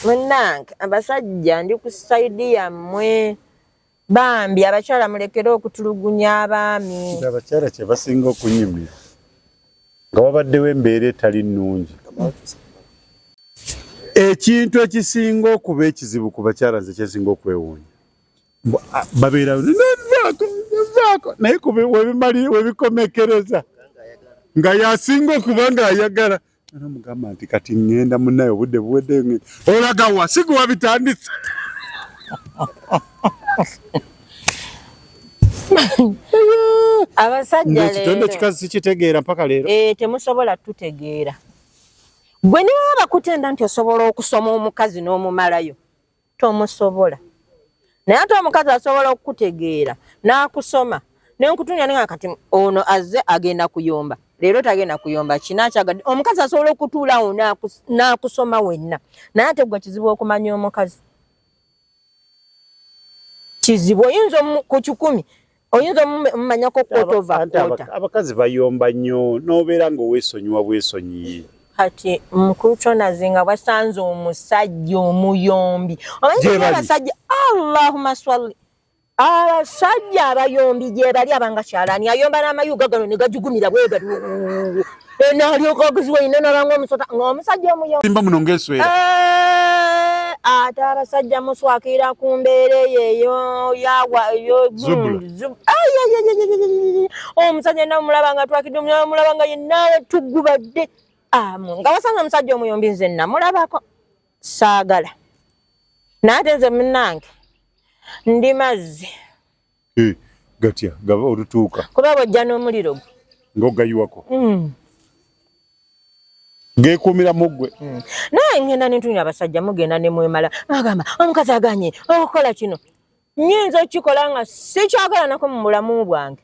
munnange abasajja ndi ku saidi yammwe bambi abakyala mulekere okutulugunya abaami abakyala kyebasinga okunyumira nga wabaddewo embeera etali nnungi ekintu ekisinga okuba ekizibu ku bakyala nze kyesinga okwewuunya babeera naye webikomekereza nga yasinga okuba ngaayagala Namugamba nti kati ngenda munaye obudde buwedde ngenda. Olaga wa siku wabitandise. Abasajja leero. Ekitendo kikazi sikitegeera mpaka leero. Eh temusobola tutegeera. Gwe niwe bakutenda nti osobola okusoma omukazi n'omumalayo. tomusobola naye ate omukazi asobola okukutegeera n'akusoma nenkutunya ninga kati ono azze agenda kuyomba leero tagenda kuyomba kinakyagadde omukazi asobola okutuulawo n'akusoma wenna naye ate gwe kizibu okumanya omukazi kizibu oyinza ku kikumi oyinza omumanyako kotova kota abakazi bayomba nnyo nobeera nga owesonyiwa bwesonyiye kati mukulu kyonaze nga bwasanze omusajja omuyombi omanyibasajja allahuma swali abasajja abayombi gyebali abanga kyalani ayomba namayuga gano negajugumira bwegati enaalyoka okuziwa ine nalanga omusota ngaomusajja omuyosimba muno ngaeswera eh, ate abasajja muswakira ku mbeera eyo eyo yawa omusajja namulaba nga twakidde mulaba nga yenaa tugubadde amu nga wasanga omusajja omuyombi nze namulabako saagala naye ate nze munange ndi mazzi Eh, gatya gaba olutuuka kuba bwojja n'omuliro gwe ng'ogayiwako mm. geekuumira mu ggwe mm. naye ngenda nentunya abasajja mugenda ne mwemala agamba omukazi aganye okukola kino nyinza okukikola nga sikyakola nako mu bulamu bwange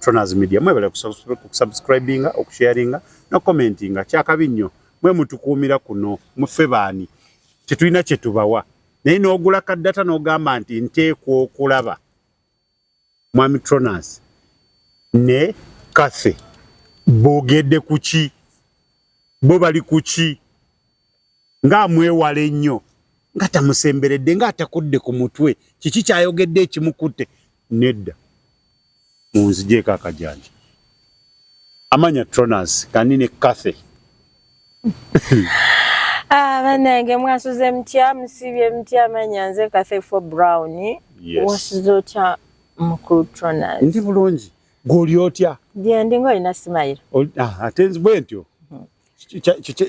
Tronaz Media mwebale kusubscribinga okusharinga no commentinga kyakabi nnyo mwe mutukuumira kuno mufe baani tetulina kye tubawa naye n'ogula ka data n'ogamba nti nteekwa okulaba mwami Tronaz ne Cathy boogedde ku ki bo bali ku ki nga amwewala ennyo nga tamusemberedde nga atakudde ku mutwe kiki kyayogedde ekimukutte nedda munzijeeko akajanja amanya tronas kandi ne cathe ah, banange mwasuze mutya musibye mutya amanya nze cathe fo brown wasuze otya mukulu tronas ndi bulungi gwoli otya gyendi nga olina simayiro ah, ate bwentyo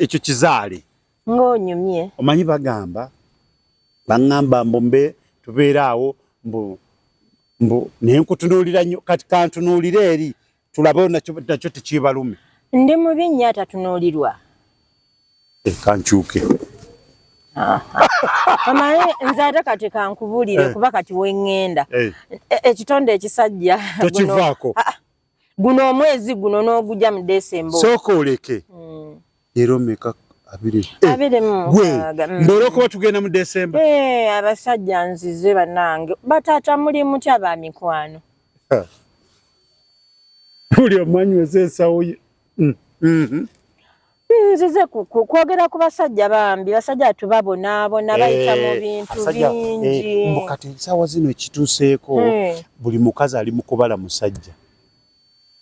ekyo kizaale ng'onyumye omanyi bagamba baŋŋamba mbu mbe tubeera awo mbu mbu naye nkutunuulira nnyo kati kantunuulire eri tulabewo nakyo tekyebalume ndi mubi nnyo atatunuulirwa eh, kankyuke amaye nze ate kati kankubulire eh. kuba kati weŋŋenda eh. ekitonde ekisajja tokivaako ah, ah. guno omwezi guno n'ogujja mu desemba sooka oleke mm. leero meka abiri eh, abiri mugwe mm. mbere okuba tugenda mu desemba eh, abasajja nzize banange bataata muli mutya ba mikwano buli omanyi weze ensawo ye mm, mm-hmm. nzize kwogera ku basajja bambi basajja atu babonaabona eh, bayita mu bintu bingi eh, mbu kati ensaawa zino ekituuseeko hmm. buli mukazi ali mu kubala musajja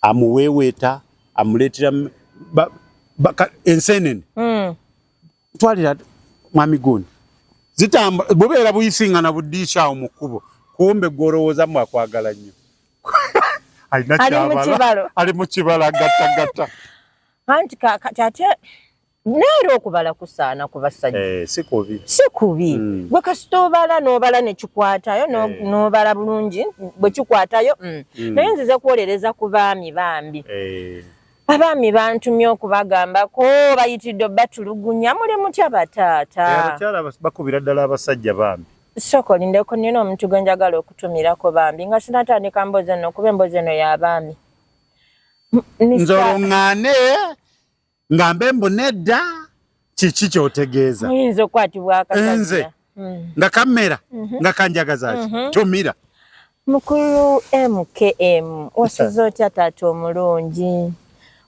amuweeweeta amuleetera enseenene hmm. twalira mwami gundi zitamba bubeera buyisingana buddiisa awo mu kkubo kumbe gwolowooza mu akwagala nnyo alina kyabala ali mu kibala gattagatta anti kakati ate naera okubala kusaana ku basajja eh, si kubi si kubi mm. gwe kasita obala n'obala ne kikwatayo eh. n'obala bulungi bwe kikwatayo mm. mm. naye nzize kuwolereza ku baami bambi eh. abaami bantumye okubagambako bayitidde batulugunya muli mutya bataata eh, abakyala bakubira ddala abasajja bambi sooka olindeko nina omuntu gwe njagala okutumirako bambi nga sinatandika mboozi eno okuba emboozi eno ya baami nze olung'ane nga mbe mbu nedda kiki kyotegeeza muyinza okukwatibwa akasajja nze hmm. nga kamera mhm. nga kanjagaza ki mhm. tomira mukulu mkm wasuze otya taata omulungi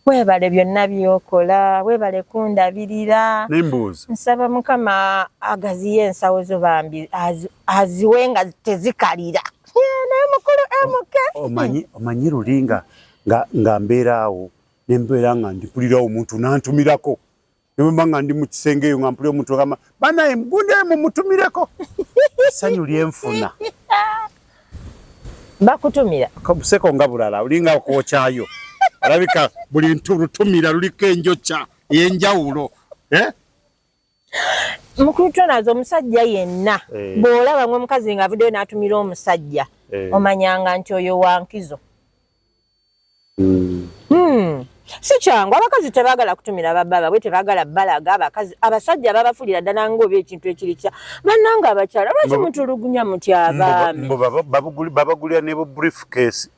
webale byonna byokola webale kundabirira nembuuza nsaba mukama agaziyo ensawo zo bambi aziwe nga tezikalira naye mukulu mk omanyi omanyi luli nga nga mbeeraawo nembeera nga ndipulira omuntu nantumirako nemba nga ndi mu kisenge eyo nga mpulira omuntu agamba banaye mgunde mumutumireko essanyu lyenfuna bakutumira kabuseko nga bulala olinga kwokyayo olabika buli ntu lutumira luliko enjokya eyenjawulo eh? mukulu tonazo omusajja yenna eh. bw'olaba nga omukazi nga avuddeyo n'atumira omusajja eh. omanyanga nti oyo wankizo hmm. Hmm. si kyangu abakazi tebagala kutumira bababa bwe tebagala balaga abakazi abasajja babafulira ddala ngaoba ekintu ekiri kya bannanga abakyala lwaki mutulugunya mutyabamibabagulira ne bu brief case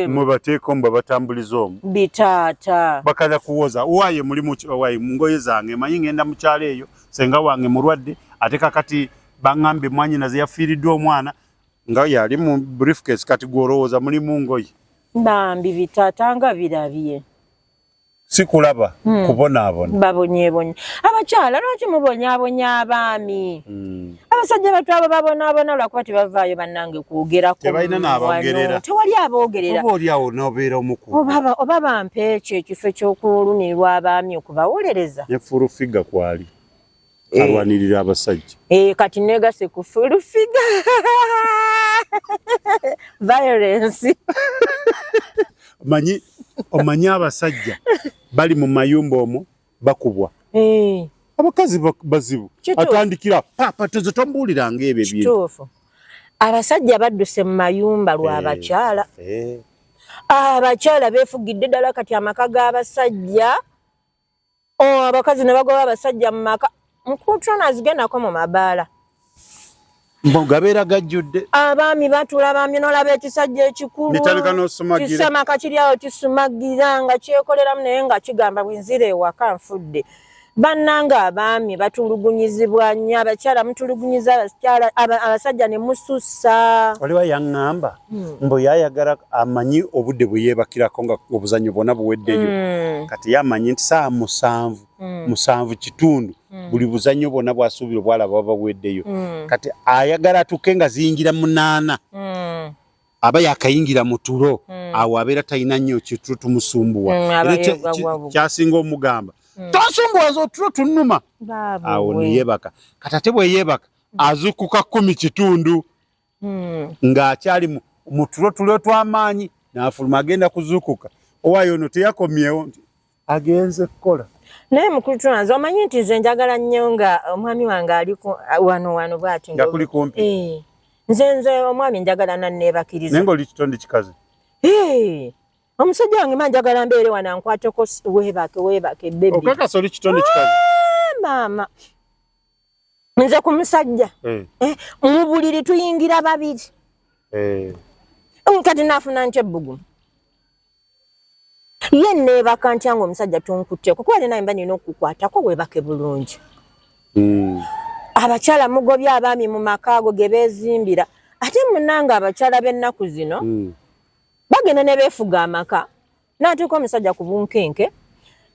mubateeko mba batambuliza omu bitaata bakaza kuwoza waye mulimu waye mungoye zange manyi ngenda mukyalo eyo senga wange mulwadde ate kakati bangambye mwanyina zeyafiiriddwa omwana nga yali mu briefcase kati gwolowooza mulimu ngoye bambi bitaata nga birabye sikulaba hmm. kubonaabona babonyebonye abakyala lwaki mubonyabonya abaami hmm. abasajja batu abo babonaabona lwakuba tebavaayo bannange kwogeraktewali aboogereraoba bampa ekyo ekifo ekyokulunirwa abaami okubawolereza nefurufiga kwali eh. alwanirira abasajja eh, kati negase ku fulufiga violence manyi omanyi abasajja bali mu mayumba omo bakubwa eh. abakazi bazibu atandikira papa tozo tombuuliranga ebyo ebintu abasajja badduse mu mayumba lw'abakyala abakyala befugidde ddala kati amaka g'abasajja oh, abakazi nebagoba abasajja mu maka mukutrona azigendako mu mabaala mugabeera gajjudde abaami batula abaami nolaba ekisajja ekikulukisamaka kiri awo kisumagira nga kyekoleramu naye nga kigamba bwenzira ewaka nfudde bannanga abaami batulugunyizibwa nnyo abakyala mutulugunyiza abasajja ne musussa oliwa yaŋŋamba Hmm. mbu yayagala amanyi obudde bwe yeebakirako nga obuzannyo bwona buweddeyo hmm. kati ye amanyi nti saa musanvu hmm. musanvu kitundu buli buzannyo bwona bwasuubira obwalaba baba buweddeyo kati ayagala atuuke nga ziyingira munaana aba yakayingira mu tulo awo abeera talina nnyo kitulo tumusumbuwa kyasinga omugamba tosumbuwaza otulo tunuma awo neyebaka kati ate bweyebaka azukuka kumi kitundu hmm. ng'akyali mu tulo tulo tw'amaanyi n'afuluma agenda kuzuukuka owayo ono teyakomyewo nti agenze kukola naye mukulu tulanze omanyi nti nze njagala nnyo nga omwami wange ali wano wano bwati nga kuli kumpi eh. nze nze omwami njagala nanneebakiriza naye ng'oli kitonde kikazi eh. omusajja wange ma njagala mbeere wano ankwateko weebake weebake bebi okakasa oli kitonde kikazi ah, maama nze ku musajja eh. eh, mu buliri tuyingira babiri eh. kati nafuna nti ebbugumu ye neebaka ntya nga omusajja tunkutteko kuba nina mba nina okukwatako weebake bulungi hmm. abakyala mugobye abaami mu maka ago ge beezimbira ate munanga abakyala b'ennaku zino hmm. bagenda ne beefuga amaka n'atuuka omusajja ku bunkenke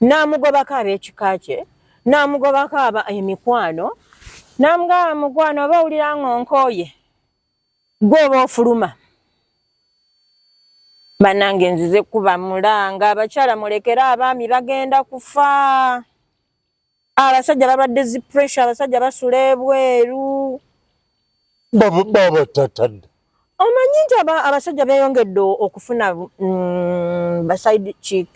n'amugobako ab'ekika kye n'amugobako aba emikwano n'amugaba mukwano oba owulira ng'onkooye gwe oba ofuluma banange nzize kuba mulanga abakyala mulekere abaami bagenda kufa abasajja balwadde zi pressure abasajja basula ebweru babatatadde omanyi nti abasajja beyongedde okufuna mm, baside chick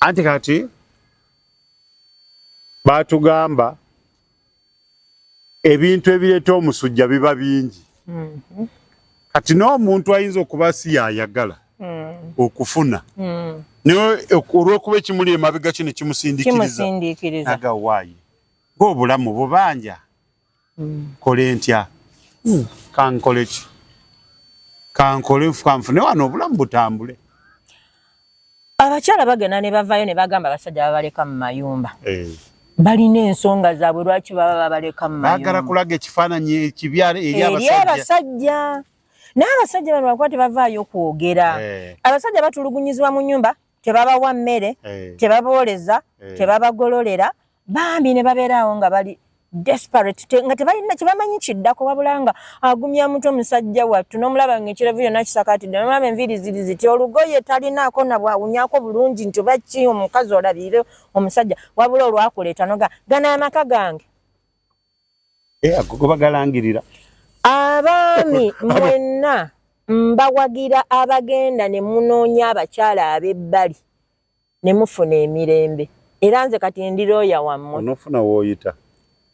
anti kati batugamba ebintu ebireeta omusujja biba bingi mm-hmm. kati n'omuntu ayinza okuba si yayagala mm. okufuna mm. naye olw'okuba ekimuli emabega kino kimusindikiriza aga waayi ng'obulamu bubanja mm. kole ntya kankole ki kankole nfukanfune wano obulamu butambule abakyala bagenda ne bavayo ne bagamba abasajja babaleka mu mayumba eh. balina ensonga zaabwe lwaki baba babaleka mu mayumba bagala kulaga ekifaananyi ekibi eri abasajja naye abasajja bano bakuba tebavaayo kwogera eh. abasajja batulugunyizibwa mu nyumba tebabawa mmere eh. tebabooleza tebabagololera bambi ne babeera awo nga bali desperate te, nga tebalina kyebamanyi kiddako wabula nga agumya mutwe musajja wattu nomulaba nga ekirevu yona kisakatidde nomulaba enviiri ziri ziti olugoye talinaako nabwawunyako bulungi nti oba ki omukazi olabiire omusajja wabula olwakuleeta noga gana amaka gange eh, gobagalangirira abaami mwenna mbawagira abagenda ne munoonya abakyala ab'ebbali ne mufuna emirembe era nze kati ndi looya wammwe onofuna wooyita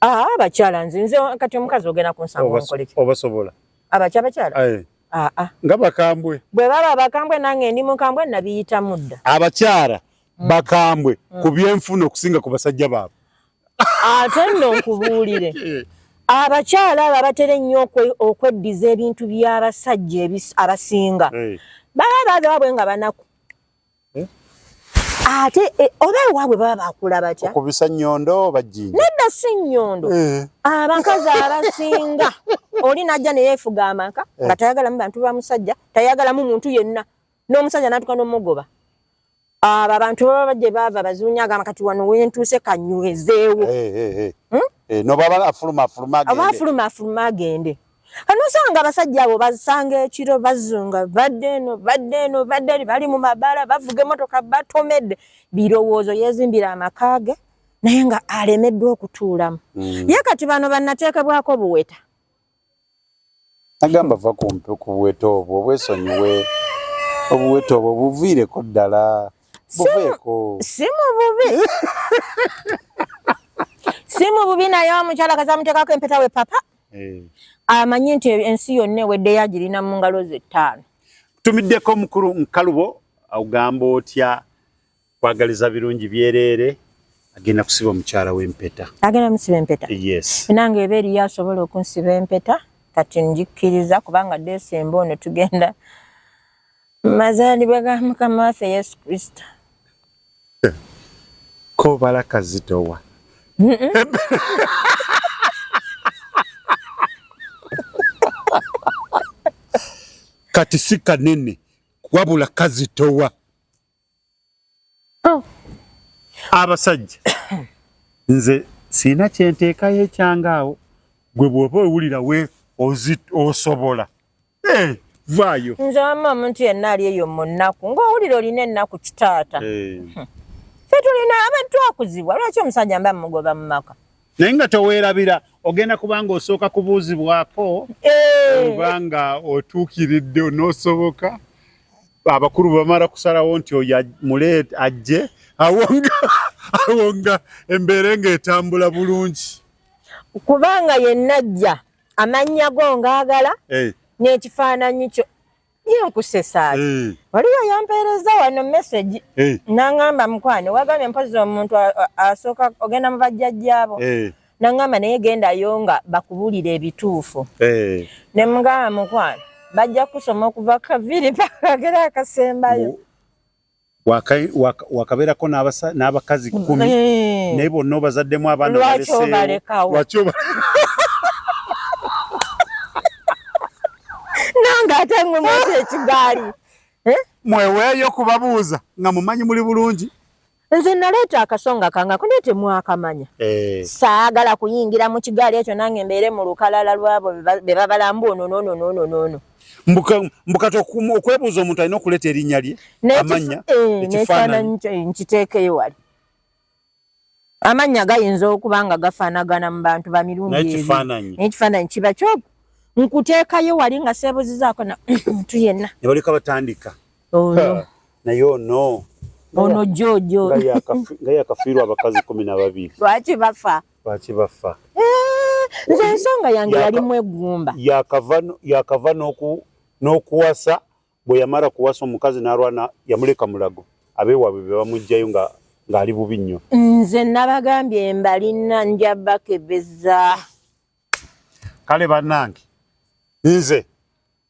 aa ah, abakyala nze nze kati omukazi ogenda kunsanga onkoleki obasobola abakya abakyala aa ah, nga bakambwe bwe baba bakambwe nange ndi mukambwe nabiyita mudda abakyala mm. bakambwe mm. ku byenfuna okusinga ku basajja baabwe ate nno nkubuulire abakyala abo abatera ennyo okweddiza ebintu by'abasajja abasinga baba baabwe nga banaku eh? ate eh, oba ewaabwe baba bakula batya okubisa nyondo bajinja nedda si nyondo eh. abakazi abasinga oli najja neyefuga amaka nga tayagalamu bantu ba musajja tayagalamu muntu yenna n'omusajja natuka nomugoba abo abantu baba bajje baava bazunya agamba kati wano wentuuse kanywezeewo hmm? nobaba afuluma afuluma agende anosanga abasajja abo bazisanga ekiro bazunga badde eno badde eno badde eri bali mu mabaala bavuga emotoka batomedde birowoozo yezimbira amaka ge naye nga alemeddwa okutuulamu mm. ye kati bano banateekebwako buweta agamba va kumpi ku buweta obwo obwesonyiwe obuweta obwo buviireko ddala buveeko si mu bubi si mu bubi naye omukyala kazamuteekako empeta we papa eh. amanye nti ensi yonna eweddeyo agirina mu ngalo ze ttaano tumiddeko omukulu nkalubo ogamba otya kwagaliza birungi byereere agenda kusiba omukyala w'empeta agenda musiba empeta yes nange eba eriyo asobola okunsiba empeta kati njikkiriza kubanga desemba ono tugenda mazaalibwa ga mukama waffe yesu kristo kobala kazitowa kati si kanene wabula kazitowa oh. abasajja nze sirina kyenteekayo ekyanga awo gwe bwoba owulira we osobola hey, eh, vaayo nze wamma omuntu yenna ali eyo mu nnaku ng'owulira olina ennaku kitaata hey. Eh. fe tulina abantu akuzibwa lwaki omusajja mba mugoba mu maka naye nga toweerabira ogenda kubanga osooka kubuuzibwako eh. oba nga otuukiridde onosoboka abakulu bamala kusalawo nti oyo mule ajje awo nga embeera nga etambula bulungi kubanga yenna ajja amannya go ngaagala eh. n'ekifaananyi kyo Ye nkusesa ati. Hey. Eh. Waliwo yampeereza wano message. Hey. Eh. Nangamba mkwano wagambye mpozi omuntu asooka ogenda mu bajjajjaabo. Hey. Eh. Nangamba naye genda yonga bakubulira ebituufu. Hey. Ne mugamba mkwano bajja kusoma okuva kaviri paka kera akasembayo. wakabeerako n'abakazi kkumi eh. naye bonna obazaddemu abaana balesewaki nange ate mwe mwekyo ekigaali eh? mweweeyo kubabuuza nga mumanyi muli bulungi nze naleeta akasonga kanga kunaye temwakamanya eh. saagala kuyingira mu kigaali ekyo nange mbeere mu lukalala lwabo bebabalambu onononononoono be mbukati okwebuuza omuntu alina okuleeta erinnya lye amannya eh, ekifaananyi eh, nkiteekeyo wali amannya gayinza okuba nga gafaanagana mu bantu ba mirundi ekifaananyi ekifaananyi kiba kyoku nkuteekayo wali nga seebuzizaako na muntu yenna ne baleka batandika oyo naye ono ono jojo nga yakafiirwa abakazi kumi na babiri lwaki bafa lwaki baffa eh, nze ensonga yange yali mwegumba yakava n'okuwasa bwe yamala kuwasa omukazi n'alwana yamuleka mulago abeewaabwe be bamugjayo nga ng'ali bubi nnyo nze nabagambye mbalina nja bakebeza kale banange nze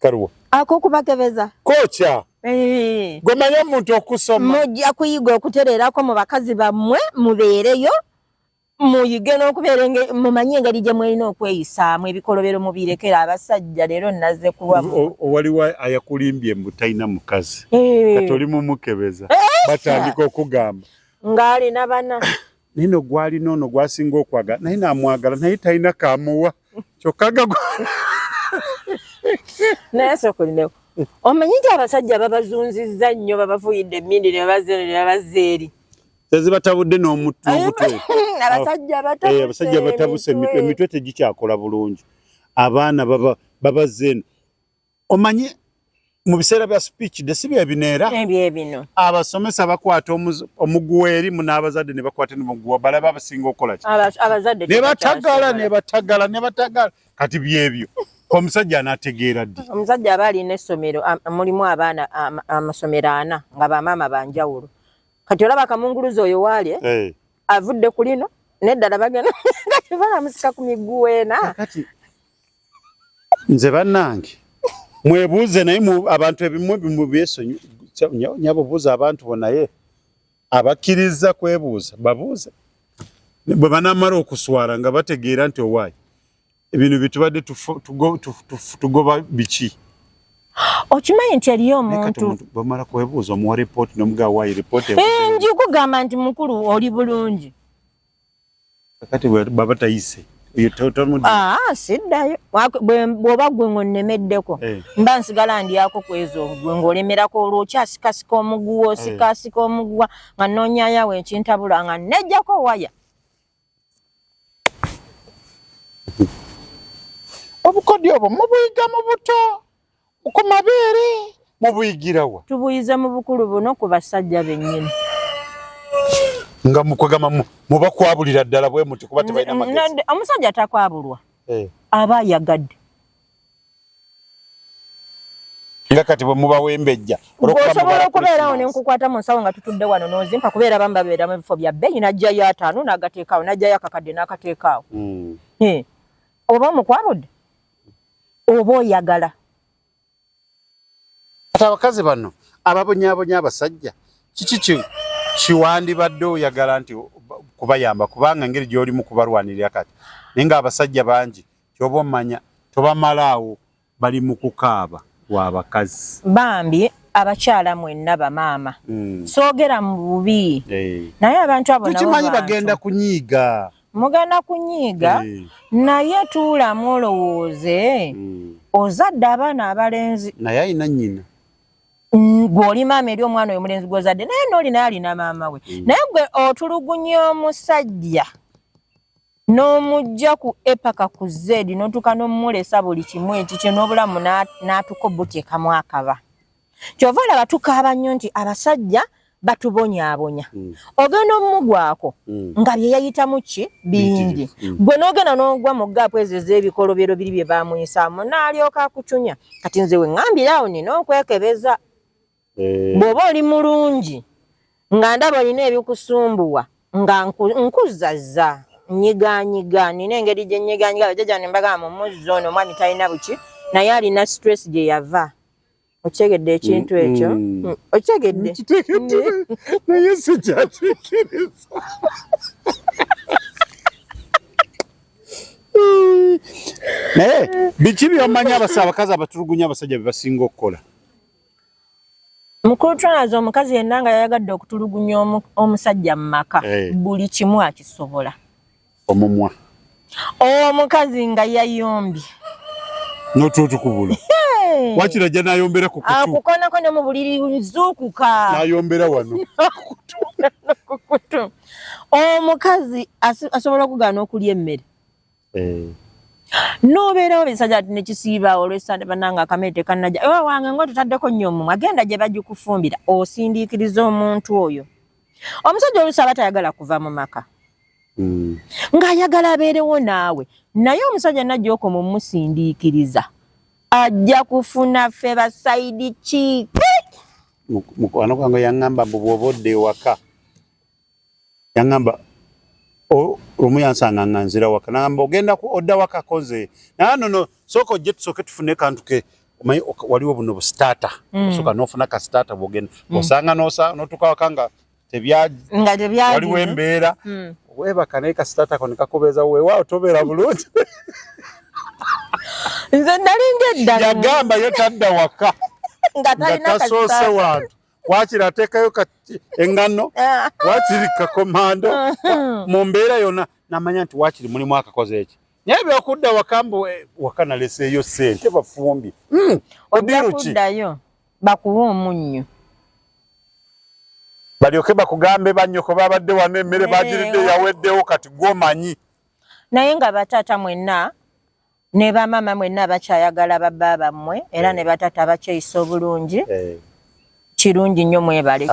karuwa ako kubakebeza kocha eh. gomanya omuntu okusoma mujja kuyiga okutereerako mu bakazi bammwe mubeereyo muyige n'okubeera mumanye engeri gye mulina okweyisaamu ebikolobero mubirekera abasajja leero naze kuwawaliwo ayakulimbye mbu talina mukazi eh. kati oli mumukebeza eh. batandika okugamba ng'alina bana naye no gwalina ono gwasinga okwagala naye namwagala naye talina kamuwa kyokka gagwa naye sokulinewo omanyi nti abasajja babazunzizza nnyo babavuyidde emindi ne babazeeno ne babazza eri tezibatabudde n'omutwe abasajja batabuse emitwe tegikyakola bulungi abaana babazeeno Omanyi mu biseera bya speech de si bye bino era abasomesa bakwata omuguwa eri munaabazadde ne bakwata ne muguwa balaba abasinga okukola ki ne batagala ne batagala ne batagala kati byebyo omusajja anategeera ddi omusajja aba alina essomero mulimu abaana amasomero ana nga bamaama banjawulo kati olaba kamunguluzi oyo waali eh. avudde ku lino neddala bagenda kati balamusika ku miguwa ena nze banange mwebuuze naye abantu ebimu bimu byesonyi nyabo buuza abantu bonaye abakkiriza kwebuuza babuuze bwe banamala okuswala nga bategeera nti owaayi ebintu byetubadde tugoba biki okimanyi nti eriyo omuntu bamala kwebuuza omuwa ripooti nomuga waayi ripooti eh, njikugamba nti mukulu oli bulungi kakati bwaba tayise ah, siddayo bwoba gwe ng'onnemeddeko eh. mba nsigala ndyako kwezo gwe ng'olemerako olwo okyasikasika omuguwa eh. osikasika omuguwa nga noonyayawo ekintabula nga nejjako waya obukodyo obwo mubuyiga mu buto Ku mabeere mubuyigira wa? Tubuyize mu bukulu buno ku basajja bennyini. Nga mukwegamba mubakwabulira ddala bwe muti kuba tebalina magezi. Omusajja takwabulwa. Eh. Aba ayagadde. nga kati bwe mubawembejja osobola okubeerawo ne nkukwata mu nsawo nga tutudde wano n'ozimpa kubeera bamu babeera mu bifo bya bbeeyi n'ajjayo ataano n'agateekaawo n'ajjayo akakadde n'akateekaawo hmm. oba omukwabudde oba oyagala kati abakazi bano ababonyabonya abasajja kiki kiwandibadde oyagala nti kubayamba kubanga engeri gyolimu kubalwanirira kati naye nga abasajja bangi kyoba omanya tobamalaawo bali mu kukaaba wabakazi bambi abakyala mwenna bamaama mm. soogera mu bubi hey. Eh. naye abantu abo tukimanyi bagenda kunyiiga mugana kunyiiga eh. naye tuulamu olowooze hmm. ozadde abaana abalenzi naye alina nyina gwoli maama eri omwana oyo mulenzi gwozadde naye nooli naye alina maama we hmm. naye gwe otulugunya omusajja n'omujja ku epaka ku zedi notuuka nomumulesa buli kimu ekikyo n'obulamu n'atuko butyekamu akaba kyova olaba tukaaba nnyo nti abasajja batubonyabonya mm. ogenda omumugwako mm. nga byeyayitamu ki bingi mm. gwe nogenda nogwa mu gaapu ezo ez'ebikolobero biri bye bamuyisaamu naalyoka akucunya kati nze wengambire awo nina okwekebeza eh. bw'oba oli mulungi nga ndaba olina ebikusumbuwa nga nkuzazza nyiganyiga nina engeri gye nyiganyiga bajaja ne mbagamba mumuzzi ono omwami talina buki naye alina stress gye yava okitegedde ekintu ekyo mm. okitegedde naye sikyakikiriza naye biki byomanyi abasa abakazi abatulugunya abasajja bebasinga okukola mukulu twanaza omukazi yenna nga yayagadde okutulugunya omusajja mu maka eh. buli kimu akisobola omumwa omukazi nga yayombye notutukubula wakira ajja nayombera kukukonako ah, ne mu buliri zuukuka nayombera wano kukutu omukazi asobola okugaana okulya emmere eh. nobeerawo bisajja ti nekisiibaawo olwesande bananga akamere tekanaja ewa wange nga otutaddeko nnyo omumwe agenda gye bagikufumbira osindiikiriza omuntu oyo omusajja olusi aba tayagala kuva mu maka mm. ng'ayagala abeerewo naawe naye omusajja najja okoma omusindiikiriza ajja kufuna ffe basaidi kiike mukwano gwange yaŋŋamba mbu bw'oba odda ewaka yaŋŋamba lumu yansanga nga nzira waka naŋamba ogenda odda wakako nze naye nono sooka ojje tusooke tufune kantu ke omanyi waliwo buno busitaata mm. osooka n'ofuna ka sitaata bwogenda mm. osanga notuka waka nga waliwo embeera hmm. webaka naye kasitatako nekakubeeza wewaawo tobeera bulungi nze nalinga eddala yagamba ye tadda waka nga tasoose wantu wakiri ateekayo engano ah. wakiri kakomando uh-huh. mu mbeera yonna namanya nti wakiri mulimu akakoze eki naye byokudda wakambu eh, wakana leseeyo sente bafumbi hmm, odiruki bakuwe omunnyo balyoke bakugambe bannyoko babadde wano emmere bagiridde yaweddewo kati gwomanyi naye nga bataata mwenna ne bamaama mwenna bakyayagala babba bammwe era eh. ne bataata bakyeyisa obulungi eh. kirungi nnyo mwebale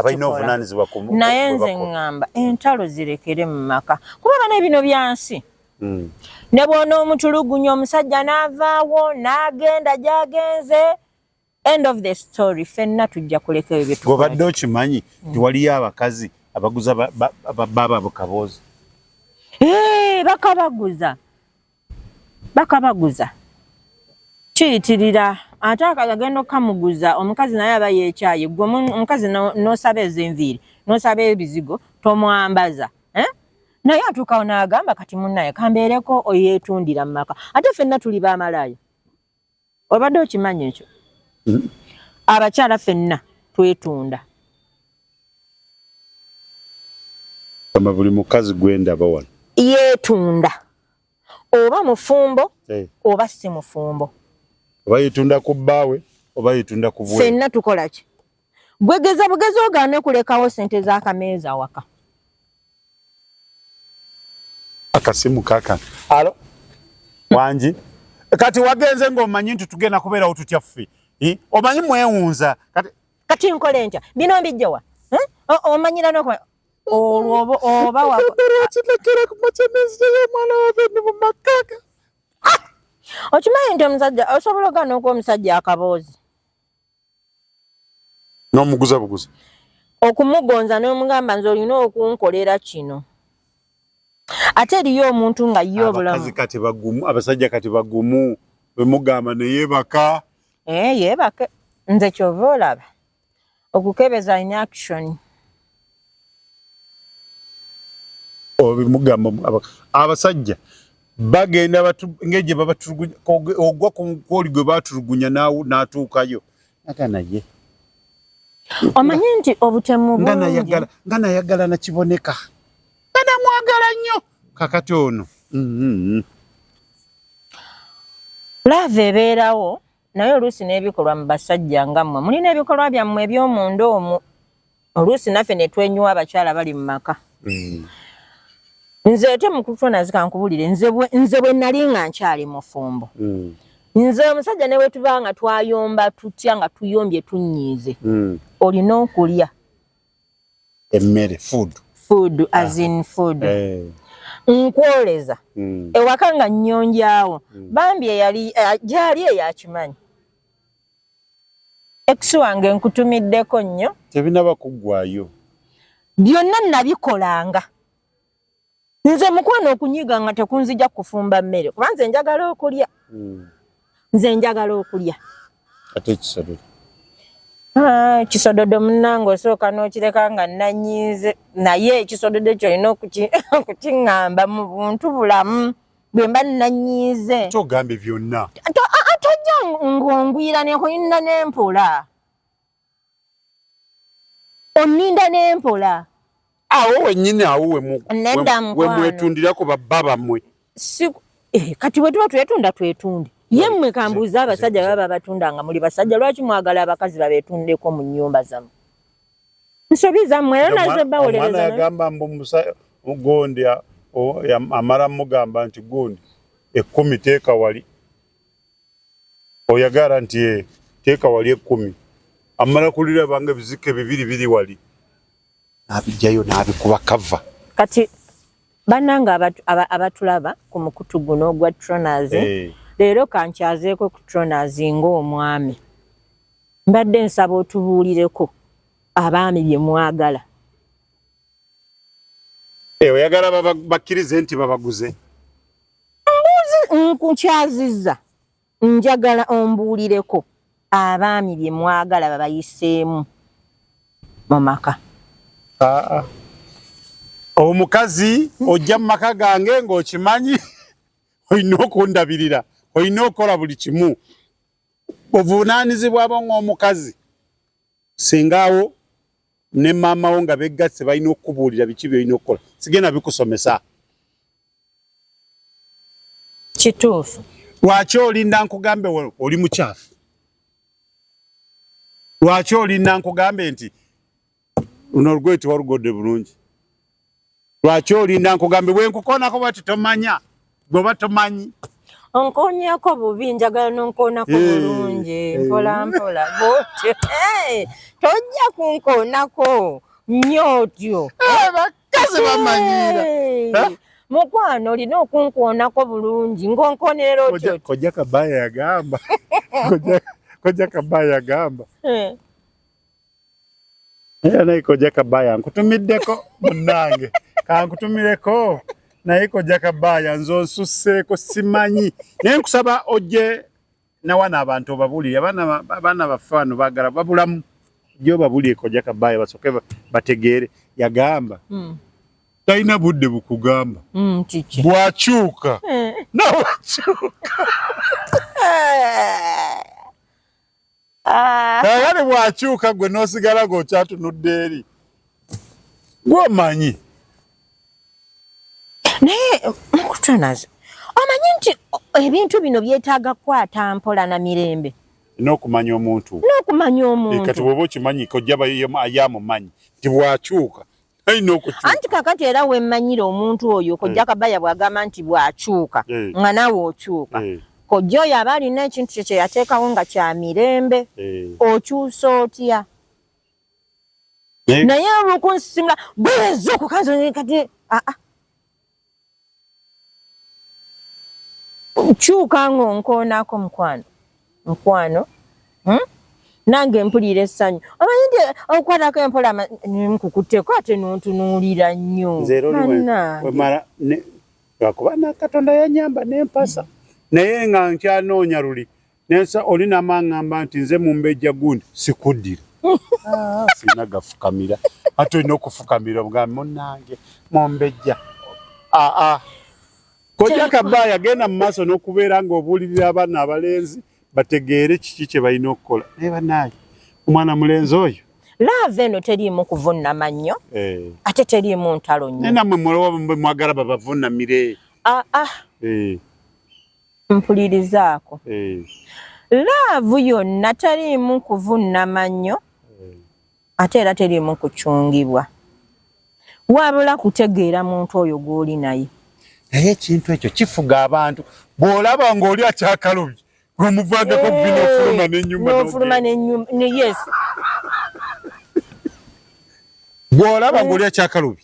naye nze ŋŋamba entalo zirekere mu maka kuba bana ebino byansi hmm. ne bwona omutulugunya omusajja n'avaawo n'agenda gy'agenze End of the story fenna tujja kuleka ebyo byetu. Gobadde okimanyi mm. tiwaliyo abakazi abaguza baba bukaboozi. Eh, bakabaguza. Bakabaguza. Kiyitirira ate akagenda okamuguza omukazi naye aba yekyaye gwe omukazi nosaba ezo enviiri nosaba ebizigo tomwambaza eh? naye atuukawo naagamba kati munaye kambeereko oyetundira mu maka ate fenna tuli bamalaaya obadde okimanyi ekyo mm-hmm. abakyala fenna twetunda ama buli mukazi gwendaba wano yetunda oba mufumbo hey. Eh. oba si mufumbo oba yetunda ku bbaawe oba yetunda ku bwe fenna tukolaki Gwe geza bugezi ogaane kulekawo sente za kameeza awaka. Akasimu kaka. Alo. Wanji. Kati wagenze ng'omanyi nti tugenda kubeerawo tutya ffe. Omanyi mwewunza. Kati kati nkole ntya? Bino mbijja wa? Omanyira n'okuba olwo oba oba wa. Kinekera ku makyamezi y'omwana wa Bendi mu makaka. Ah! Okimanyi nti omusajja osobola ogaana okuwa omusajja akaboozi. n'omuguza buguzi okumugonza n'omugamba nze olina okunkolera kino ate eriyo omuntu nga ye obulamu kati bagumu abasajja kati bagumu bwemugamba neyebaka ee eh, yebake nze kyova olaba okukebeza inaction mugamba abasajja bagenda ngeje babatulugunya ogwa kwoli gwe batulugunya natuukayo aga naye omanyi nti obutemu nga nayagala nga nayagala nakiboneka nga namwagala nnyo kakati ono mm-hmm. laava ebeerawo naye oluusi n'ebikolwa mu basajja nga mmwe mulina ebikolwa byammwe eby'omunda omu oluusi naffe ne twenyuwa abakyala bali mu maka mm. nze ate mukutwa nazika nkubulire nze bwe nali nga nkyali mufumbo mm. nze omusajja ne wetuba nga twayomba tutya nga tuyombye tunyiize mm. olina okulya emmere food food ah. as in food eh. nkwoleza mm. ewaka nga nnyonjawo mm. bambi eyali eh, gyali eyakimanyi ex wange nkutumiddeko nnyo tebinaba kuggwayo byonna nabikolanga nze mukwano okunyiga nga tekunzija kufumba mmere kuba nze njagala okulya hmm. nze njagala okulya ate kisododo ah, kisododo munange osooka n'okireka nga nanyiize naye ekisododo ekyo olina okukiŋŋamba mu buntu bulamu bwe mba nanyiize kyogambye byonna tojja ng'ongwira nekulina n'empola onninda ne mpola awo wenyini awo wemwetundira ku babba bammwe eh, kati bwe tuba twetunda twetunde ye mmwe kambuuza abasajja baba babatunda nga muli basajja lwaki mwagala abakazi babetundeko mu nnyumba zammwe nsobi zammwe era nazo bawolereza agamba mbu gundi amala mugamba nti gundi ekkumi teeka wali oyagara nti eh, teeka wali ekkumi amala kuliraba nga ebizike bibiri biri wali n'abijjayo n'abikuba kava kati bannange abatulaba ku mukutu guno ogwa tronas eh. leero kankyazeeko ku tronas ng'omwami mbadde nsaba otubuulireko abaami bye mwagala eh, oyagala bakkirize nti babaguze mbuuzi nkukyazizza njagala ombuulireko abaami bye mwagala babayiseemu mu maka aa omukazi ojja mu maka gange ng'okimanyi olina okundabirira olina okukola buli kimu obuvunaanyizibwa bo ng'omukazi singaawo ne maama wo nga beggasse balina okukubuulira biki byolina okukola sigenda bikusomesa kituufu lwaki olinda nkugambe oli mukyafu lwaki olinda nkugambe nti luno olugoye tewalugodde bulungi Lwaki olinda nkugambe bwe nkukoonako bwati tomanya gweoba tomanyi onkoonyako bubi njagala nonkoonako eh, bulungi eh. mpola mpola bwotyo eh, tojja kunkoonako nnyo otyo bakazi bamanyiira mukwano olina okunkoonako bulungi ng'onkoonerera otyo kojja kabaya yagamba kojja kabaya yagamba Era naye kojja kabaya nkutumiddeko munnange kankutumireko naye kojja kabaya nze onsusseeko simanyi naye nkusaba ojje nawana abantu obabuulire abaana baffe bano bagala babulamu ojje obabuulire kojja kabaya basooke bategeere yagamba hmm. talina budde bukugamba hmm, bwakyuka eh. nawakyuka Ah. Kale bwakyuka gwe nosigala gokyatunudde eri. Gwomanyi. Naye mukutunaze. Omanyi nti ebintu bino byetaaga kukwata mpola na mirembe. N'okumanya omuntu. N'okumanya omuntu. Kati woba okimanyi kojja bayo yamumanyi nti bwakyuka anti kakati era wemmanyira omuntu oyo eh. kojja kabaya bwagamba nti bwakyuka eh. nga naawe okyuka eh. kojja oyo aba alina ekintu kye kyeyateekawo nga kya mirembe okyusa otya naye olwokunsisimula bweza okukanzikati aa ah, ah. kyuka ng'onkoonaako mukwano mukwano hmm? nange mpulira essanyu omanyi nti okukwatako empola nkukutteko ate nontunuulira nnyo lwakuba nakatonda yanyamba nempasa naye nga nkyanoonya luli nensa oli namangamba nti nze mumbejja gundi sikuddira ah. sina gafukamira ate olina okufukamira obugambi munange mumbejja aa ah, ah. kojja kaba yagenda mu maaso n'okubeera ng'obuulirira abaana abalenzi bategeere kiki kye balina okukola naye banaaye omwana mulenzi oyo laava eno teriimu kuvunnama nnyo eh. ate teriimu ntalo nnyo naye namwe mulowa mwagala babavunamire aa ah, eh. mpulirizaako eh. laavu yonna teriimu kuvunnama nnyo eh. ate era teriimu kucungibwa wabula kutegeera muntu oyo gw'oli naye naye ekintu ekyo kifuga abantu bw'olaba ng'oli akyakalubye omuvangako vino ofuluma nenyumanofuluma nenyuma yes bw'olaba ng'oli akyakalubi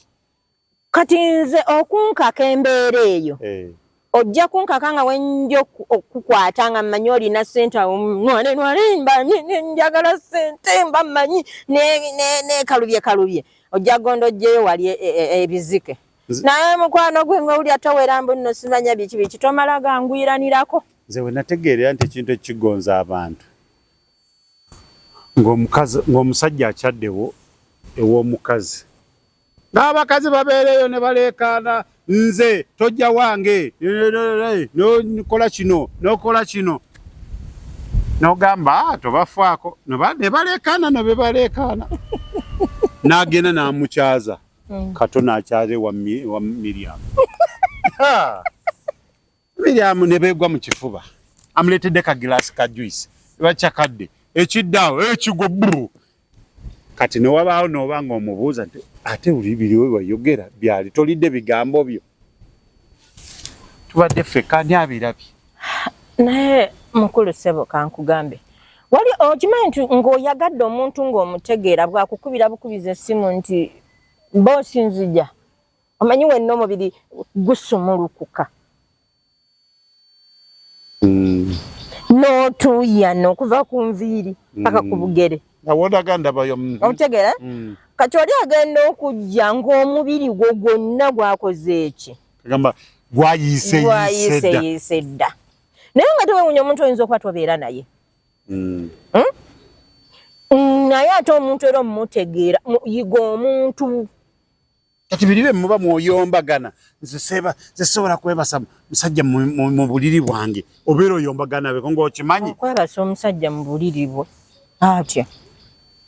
kati nze okunkaka embeera eyo eh. ojja kunkaka nga wenja okukukwata nga mmanyi olina sente awomanenwalenbanjagala sente mba mmanyi nekalubye kalubye ojja gonda ojjeyo wali e, e, e, ebizike naye mukwano gwe nga wulya towera mbu nno simanya biki biki tomala ganguyiranirako nze wenategeerera nti ekintu ekigonza abantu ng'omusajja akyaddewo ew'omukazi n'abakazi babeereyo ne baleekaana nze tojja wange nokola kino nokola kino nogamba ah, tobafaako ne baleekaana no be baleekaana n'agenda n'amukyaza mm. kato n'akyaza ewa miryamu Miriam ne beegwa mu kifuba amuleetedde ka gilaasi ka juice bakyakadde ekiddaawo ekigwo eh, bru kati ne wabaawo nooba ng'omubuuza nti ate buli biriwo byeyogera byali tolidde bigambo byo tubadde ffekka ani abirabye naye mukulu ssebo kankugambe wali okimanyi nti ng'oyagadde omuntu ng'omutegeera bwakukubira bukubiza essimu nti boosi nzija omanyi wenna omubiri gusumulukuka mm. n'otuuyana okuva ku nviiri paka ku mm. bugere obutegeera mm. kati oli agenda okujja ng'omubiri gwo gwonna gwakoze eki gwayiseyiise dda naye nga tewewunya omuntu oyinza okuba tobeera naye hmm? naye ate omuntu era omutegeera yiga omuntu kati biri byemuba mwoyombagana nze seba nze sobola kwebasa musajja mu buliri bwange obeera oyombagana beko ngaokimanyi okwebasa omusajja mu buliri bwe atya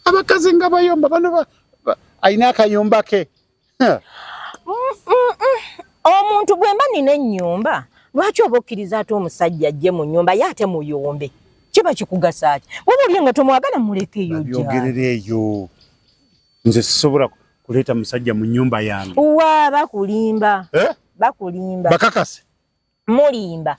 abakazi nga bayomba bano alina akayumba ke mm, mm, mm. omuntu bwemba nina ennyumba lwaki oba okkiriza ate omusajja ajje mu nyumba ye ate muyombe kiba kikugasa ki waba olye nga tomwagala mulekeyo byogerera eyo nze sisobola kuleeta musajja mu nyumba yange uwa bakulimba eh? bakulimba bakakase mulimba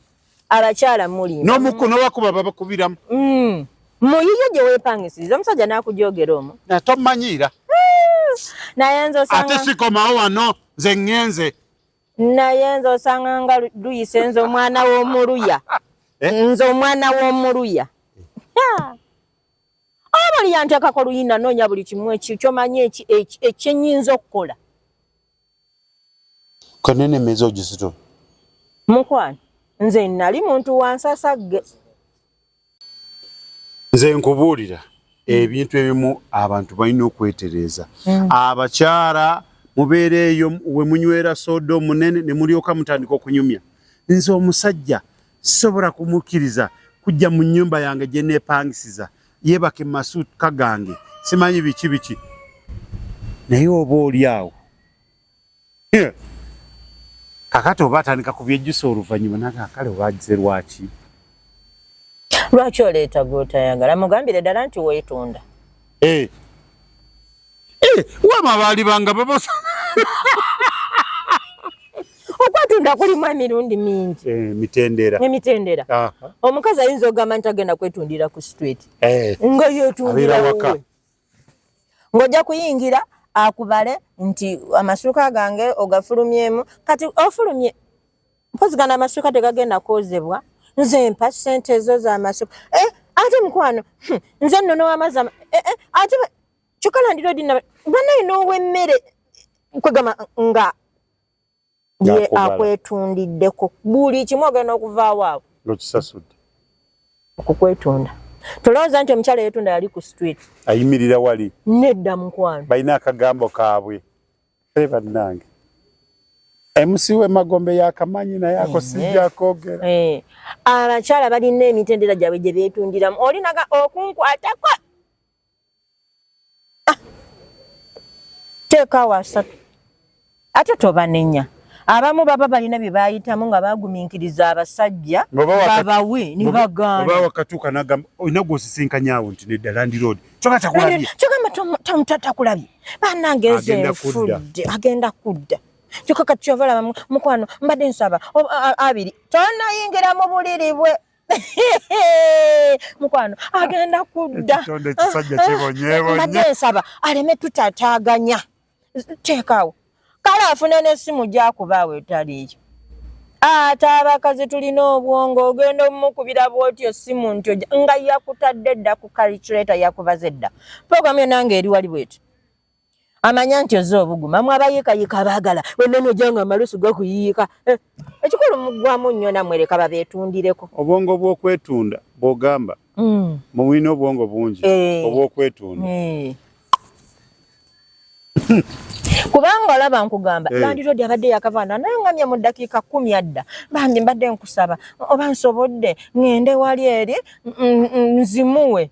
abakyala mulimba nomuku nowakuba babakubiramu mm. muyiyo gye wepangisiriza omusajja nakujogera omu natomanyiira eh, naye nze osanga ate sikomawo wano nze ngenze naye nze osanga nga luyise nze omwana w'omuluya eh? nze omwana w'omuluya abali yantekako luyina nonya buli kimu eki kyomanyi eki ekyenyinza okukola kanene mezo gisito mukwano nze nali muntu wansasagge nze nkubuulira ebintu ebimu abantu balina okwetereeza mm. abakyala mubeera eyo we munywera sooda omunene ne mulyoka mutandika okunyumya nze omusajja Sisobola kumukkiriza kujja mu nnyumba yange gye neepangisiza yeebake mu masuuka gange simanyi biki biki naye oba oli awo kakati oba atandika ku byejjusa oluvannyuma naga kale obaagize lwaki lwaki oleeta gwotayagala mugambire ddala nti weetunda Eh. Eh, wama baali banga babosa. Okwatunda kulimu emirundi mingi. Eh, mitendera. Ne mitendera. Aha. Omukazi ayinza ogamba nti agenda kwetundira ku street. Eh. Nga yetundira waka. Ngoja kuyingira akubale nti amasuka gange ogafulumyemu kati ofulumye mpozi gana amasuka tegagenda kozebwa nze mpa sente ezo za masuka eh, ate mukwano hm, nze nono amazi eh, eh, ate kyokka landirodi banaye n'owemmere kwegamba nga ye akwetundiddeko buli kimu ogenda okuvaawo awo nokisasudde okukwetunda tolowooza nti omukyala yetunda yali ku street ayimirira wali nedda mukwano balina akagambo kaabwe Hey, bannange MC we magombe yakamanyi naye ako eh, sijja eh. kogera eh. abakyala balina emitendera gyabwe gye beetundiramu olinaga okunkwatako ah. teekawo asatu ate tobanenya abamu baba balina bye bayitamu nga bagumiikiriza abasajja babawe ne baganda olina gwosisinkanyawo nti nedda landiroodi kyoka takulabye kyoka matomu tamu tatakulabye banange nze fudde agenda kudda kyoka kati kyova laba mukwano mbadde nsaba abiri tonayingira mu buliri bwe mukwano agenda kudda mbadde nsaba aleme tutataganya teekawo kale afune n'essimu gyakubaawo etaliiyo ate abakazi tulina obwongo ogenda omukubira bwotyo essimu ntyo nga yakutadde dda ku kaliculata yakubaze dda puroguramu yo nange eri wali bwetyo amanya nti oze obuguma mwe abayikayika abaagala wenene ojanga amalusu gakuyiika eh, ekikulu mugwamu nnyo namwe leka babeetundireko obwongo bw'okwetunda bw'ogamba mm. mubulina obwongo bungi eh. obw'okwetunda eh. kubanga olaba nkugamba hey. Eh. landlord abadde yakavaana nangamya mu ddakiika kumi adda bambi mbadde nkusaba oba nsobodde ŋŋende wali eri nzimuwe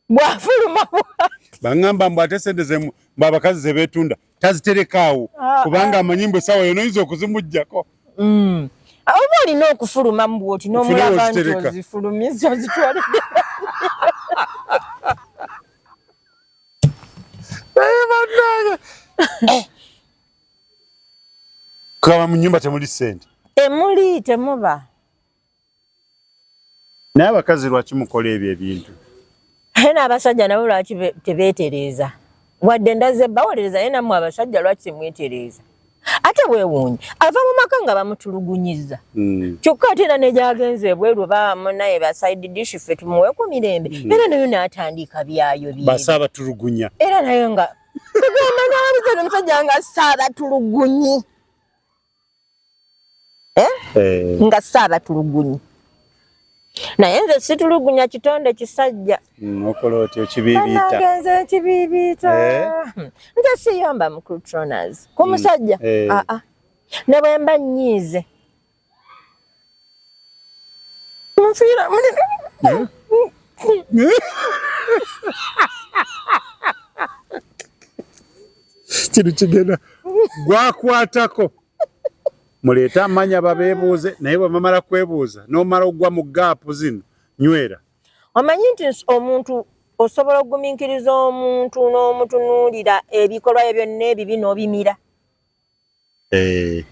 bwafuluma bwati baŋŋamba mbu ate sente zemu mbu abakazi ze beetunda taziterekaawo ah, kubanga ah. amanyi mbu essaawa yona oyinza okuzimuggyako mm. ah, oba olina okufuluma mu bwoti n'omulaba nti ozifulumizza ozitwalidde naye banange eh. kaba mu nyumba temuli sente temuli temuba naye abakazi lwaki mukola ebyo ebintu naye n'abasajja nabo lwaki tebeetereeza wadde ndazze bawolereza naye nammwe abasajja lwaki temwetereeza ate wewuunye ava mu maka nga bamutulugunyiza mm. kyokka ate era negyagenza ebweru bamunaye basaidi dishi ffe tumuweku mirembe mm. era nayo natandika byayo byebatulugunya era nayo nga tugamba nawalizana omusajja nga saabatulugunyi eh? eh. nga saabatulugunyi naye nze situlugunya kitonde kisajja mm, okola otyo kibiibiitagenze ekibiibiita eh? nze siyomba mukrutronas ku mm, musajja eh. aa ah, ah. ne bwe mba nnyiize nfiira muli hmm? kino kigenda gwakwatako muleete amanya babebuuze naye bwemamala kwebuuza nomala ogwa mu gaapu zino nywera omanyi nti omuntu osobola okugumiikiriza omuntu n'omutunuulira ebikolwa bye byonna ebibi n'obimira eh.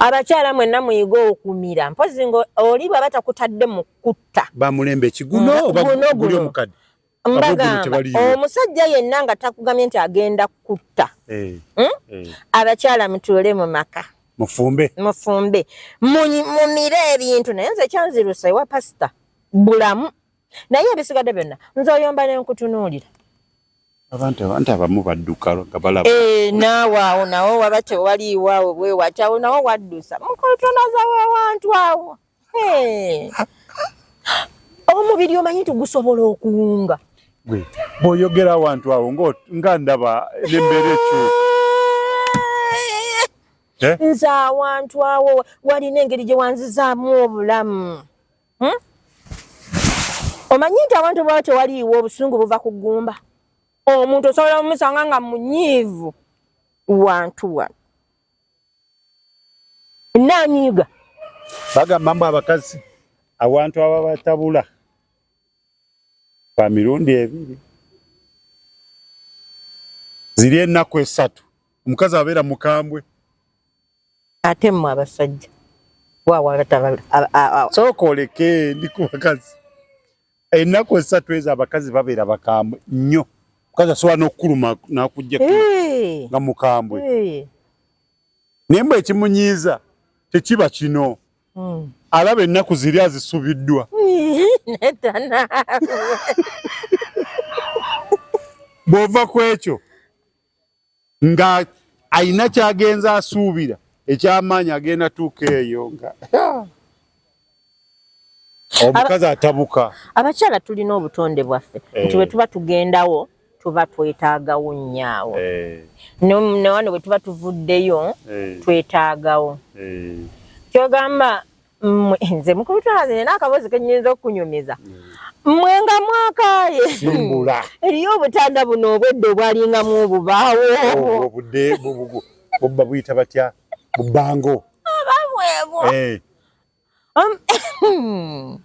abakyala mwenna muyiga okumira mpozi nga oli bwaba takutadde mu kutta bamulembe ekiguno oba guli omukadde mbagamba omusajja yenna nga takugamye nti agenda kutta eh, hmm? eh. abakyala mutuule mu maka mufumbe mufumbe mumire ebintu naye nze kyanzirusa ewa pasita bulamu naye ebisigadde byonna nze oyomba nenkutunuulira abantu abantu abamu badduka nga balaba eh, naawe awo nawo waba tewaliiwo awo bwewati awo nawo waddusa mukotonazawo awantu awo omubiri omanyi nti gusobola okuwunga gwe bwoyogera awantu awo nga ndaba nembeera ekyuka eh? nze awantu awo walina engeri gye wanzizaamu obulamu hmm? omanyi nti awantu bwaba tewaliiwo obusungu buva ku ggumba omuntu osobola omusanga nga munyiivu wantu wano nanyiiga bagamba mbu abakazi awantu ababatabula ba mirundi ebiri ziri ennaku esatu omukazi abeera mukambwe ate mmwe abasajja wawa abatabala sooka oleke ndi ku bakazi ennaku esatu ezo abakazi babeera bakambwe nnyo mukazi asobola n'okukuluma n'akujja nga mukambwe naye mbwe ekimunyiiza tekiba kino hmm. alaba ennaku ziri azisubiddwa bw'ova ku ekyo nga alina kyagenza asuubira ekyamaanyi agenda tuuka eyo nga omukazi atabuka. Abakyala tulina obutonde bwaffe eh. nti bwe tuba tugendawo tuba twetaagawo nnyo awo eh. newano bwe tuba tuvuddeyo eh. twetaagawo kyogamba Mwe nze mukubitwa nze nina akabozi kenyinza okunyumiza. Mwe nga mwakaye. Simbula. Eriyo obutanda buno obwedde obwalinga mu obubaawo. Oh, obudde bubugu. Obba buyita batya? Bubango. Abamwebo. Eh. Um,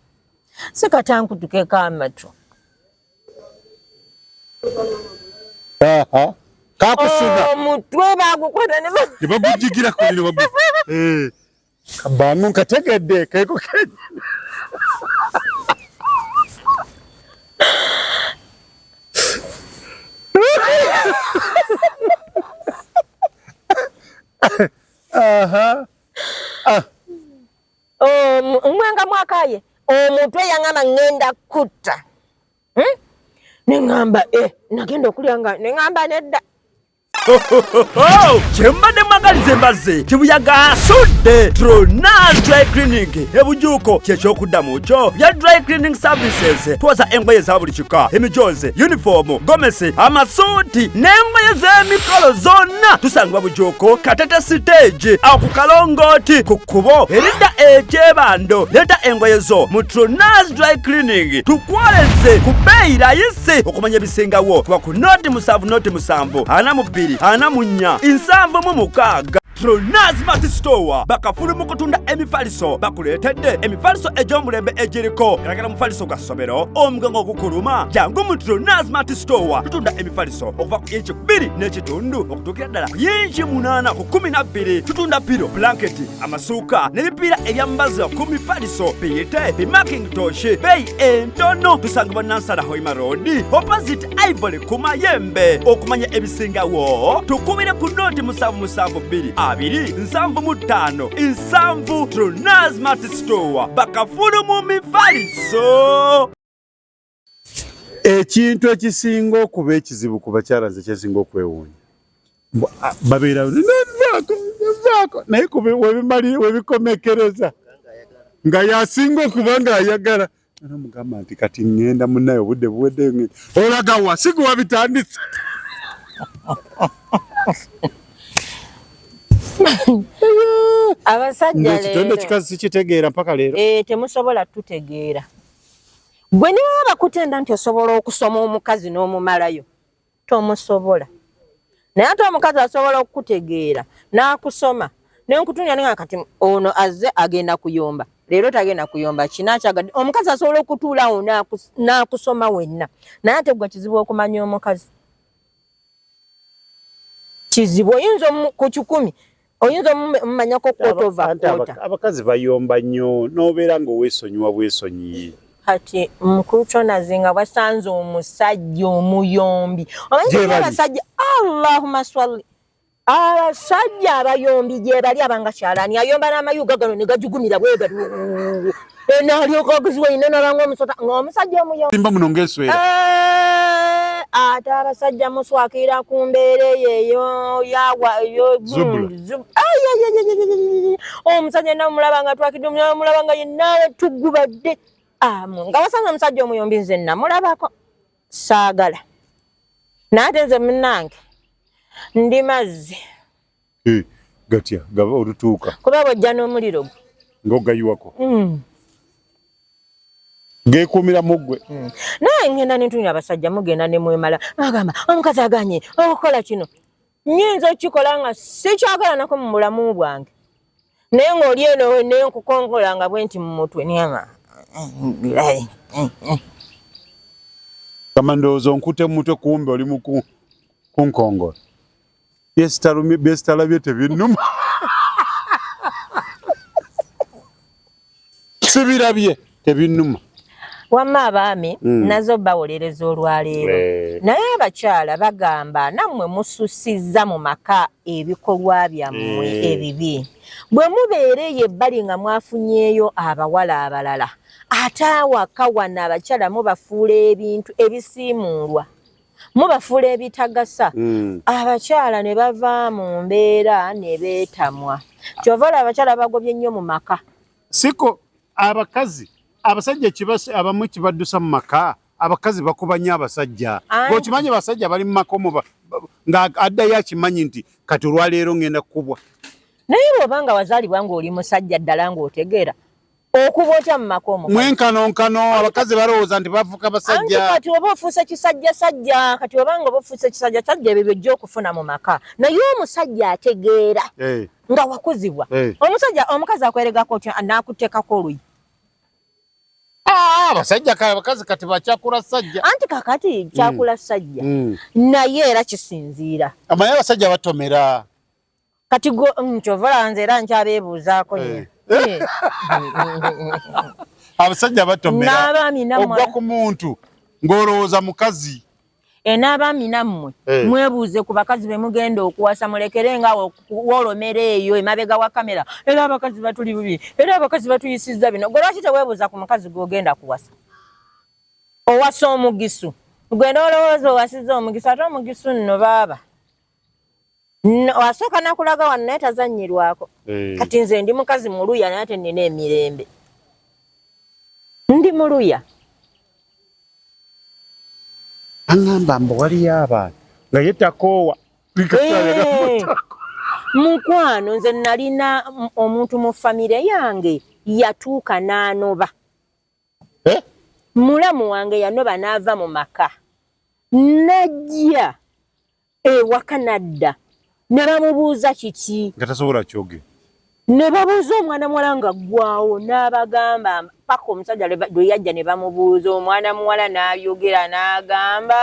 sikatanku tukeka amatu. Aha. Kakusiga. Omutwe oh, bagukwata ne bagujigira kulino bagu. Eh. Kabamu nkategedde keko kenyi. Aha. Ah. Um, mwanga mwakaye omuntu eyang'amba ngenda kutta hmm? neŋŋamba e eh, nagenda okulya nga neŋŋamba nedda kyembadde mwagalize mbazze kibuyaga asudde trona dry clinic ebujuuko kyekyokuddamu kyo bya dry cleaning services twoza engoye za buli kika emijoozi yunifoomu gomesi amasuuti n'engoye z'emikolo zonna tusangibwa bujuuko katete siteegi awo ku kalongooti ku kkubo eridda ekyebando leeta engoye zo mu tronas dry clinic tukwoleze ku bbeeyi layisi okumanya ebisingawo kuba ku noti musanvu noti musanvu ana mu bbiri ana mu nnya nsanvu mu mukaaga Tronaz Mati Store bakafulu mu kutunda emifaliso bakuleetedde emifaliso egy'omulembe egiriko galagala mufaliso gwa ssomero omugongo ogukuluma jangu mu Tronaz Mati Store tutunda emifaliso okuva ku inci bbiri n'ekitundu okutuukira ddala ku inci munaana ku kumi na bbiri tutunda piro blanketi amasuuka n'ebipiira ebyambaza ku mifaliso biyite bimaking toshi beeyi entono tusangibwa nansala hoima road opposite ivory ku mayembe okumanya ebisingawo tukubire ku nooti musanvu musanvu bbiri abiri nsanvu mu ttaano nsanvu trunasmart store bakafulu mu mifaliso ekintu ekisinga okuba ekizibu ku bakyala nze kyesinga okwewuunya babeera naye webikomekereza nga yasinga okuba nga ayagala Namugamba nti kati ŋŋenda munnaye obudde buwedde ŋŋenda. Olaga wa si gwe wabitandise. Abasajja leero. Ekitendo kikazi sikitegeera mpaka leero. Eh, temusobola tutegeera. Gwe ne baba bakutenda nti osobola okusoma omukazi n'omumalayo. tomusobola naye ate omukazi asobola okukutegeera n'akusoma nenkutunya ninga kati ono azze agenda kuyomba leero tagenda kuyomba kinakyagadde omukazi asobola okutuulawo n'akusoma wenna naye ate gwe kizibu okumanya omukazi kizibu oyinza ku kikumi oyinza omumanyako kotova kota abakazi bayomba nnyo nobeera nga owesonyiwa bwesonyiye kati mukulu kyonaze nga bwasanze omusajja omuyombi omanyiabasajja allahuma swali abasajja abayombi gyebali abanga kyalani ayomba namayuga gano negajugumira bwegati enaalyoka okuziwa ine nalanga omusota ng'omusajja omuyo simba muno ng'eswera eh, ate abasajja muswakira ku mbeera eyo eyo yawa omusajja yenna omulaba nga twakidde omulaba nga yenna tugubadde amu nga wasanga omusajja omuyombi nze namulabako saagala naate nze munange ndi mazzi Eh, gatya gaba olutuuka kuba bwojja n'omuliro gwe ng'ogayiwako Mm. geekuumira mu ggwe Mm. naye ngenda nentunira abasajja mugenda nemwemala agamba omukazi aganye okukola kino nyinza okukikola nga sikyakolanako mu bulamu bwange naye ngaoli eno nenkukongola nga bwe nti mu mutwe niyama kama ndowooza onkute mu mutwe kumbe oli mu ku- kunkongola byesitalabye tebinuma sibirabye tebinuma wamma abaami mm. nazo bawolereza olwaleero eh. naye abakyala bagamba nammwe mususizza mu maka ebikolwa byammwe eh. ebibi bwe mubeera eyo ebbali nga mwafunyeeyo abawala abalala ate awaka wano abakyala mubafuula ebintu ebisiimuulwa mubafuula ebitagasa hmm. abakyala ne bava mu mbeera ne beetamwa kyova olaba abakyala bagobye nnyo mu maka siko abakazi abasajja abamu kibaddusa mu maka abakazi bakubanya abasajja okimanyi abasajja bali mu maka omuba nga addayo akimanyi nti kati olwaleero ngenda kukubwa naye bwoba nga wazaalibwa ng'oli musajja ddala ng'otegeera okuba otya mu makomo mwenkanonkano abakazi balowooza nti bafuka basajja kati oba ofuuse kisajja sajja kati oba nga oba ofuuse kisajja sajja ebyo byojja okufuna mu maka naye omusajja ategeera eh. nga wakuzibwa eh. omusajja omukazi akweregako otya naakuteekako oluyi ah, abasajja kale abakazi kati bakyakula sajja anti kakati kyakula mm. sajja mm. naye era kisinziira amaye abasajja batomera kati gwe mm, kyova olaba nze era nkyabeebuuzaako nyo eh. eh. abasajja batomeraogwa ku muntu ng'olowooza mukazi e n'abaami nammwe eh. mwebuuze ku bakazi be mugenda okuwasa mulekere nga wolomera eyo emabega wa kamera era abakazi batuli bubi era abakazi batuyisizza bino gwe lwaki teweebuuza ku mukazi gw'ogenda kuwasa owasa omugisu gwenda olowooza owasiza omugisu ate omugisu nno baaba asooka nakulaga wano naye tazanyirwako eh. kati nze ndi mukazi muluya naye ate nina emirembe ndi muluya aŋamba mbu waliyo abantu nga ye takoowa eh. mukwano nze nalina omuntu mu famire yange yatuuka n'anoba eh? mulamu wange yanoba n'ava mu maka najja ewaka nadda ne bamubuuza kiki nga tasobola kyoge ne babuuza omwana muwala nga ggwawo n'abagamba paka omusajja lwe yajja ne bamubuuza omwana muwala n'ayogera n'agamba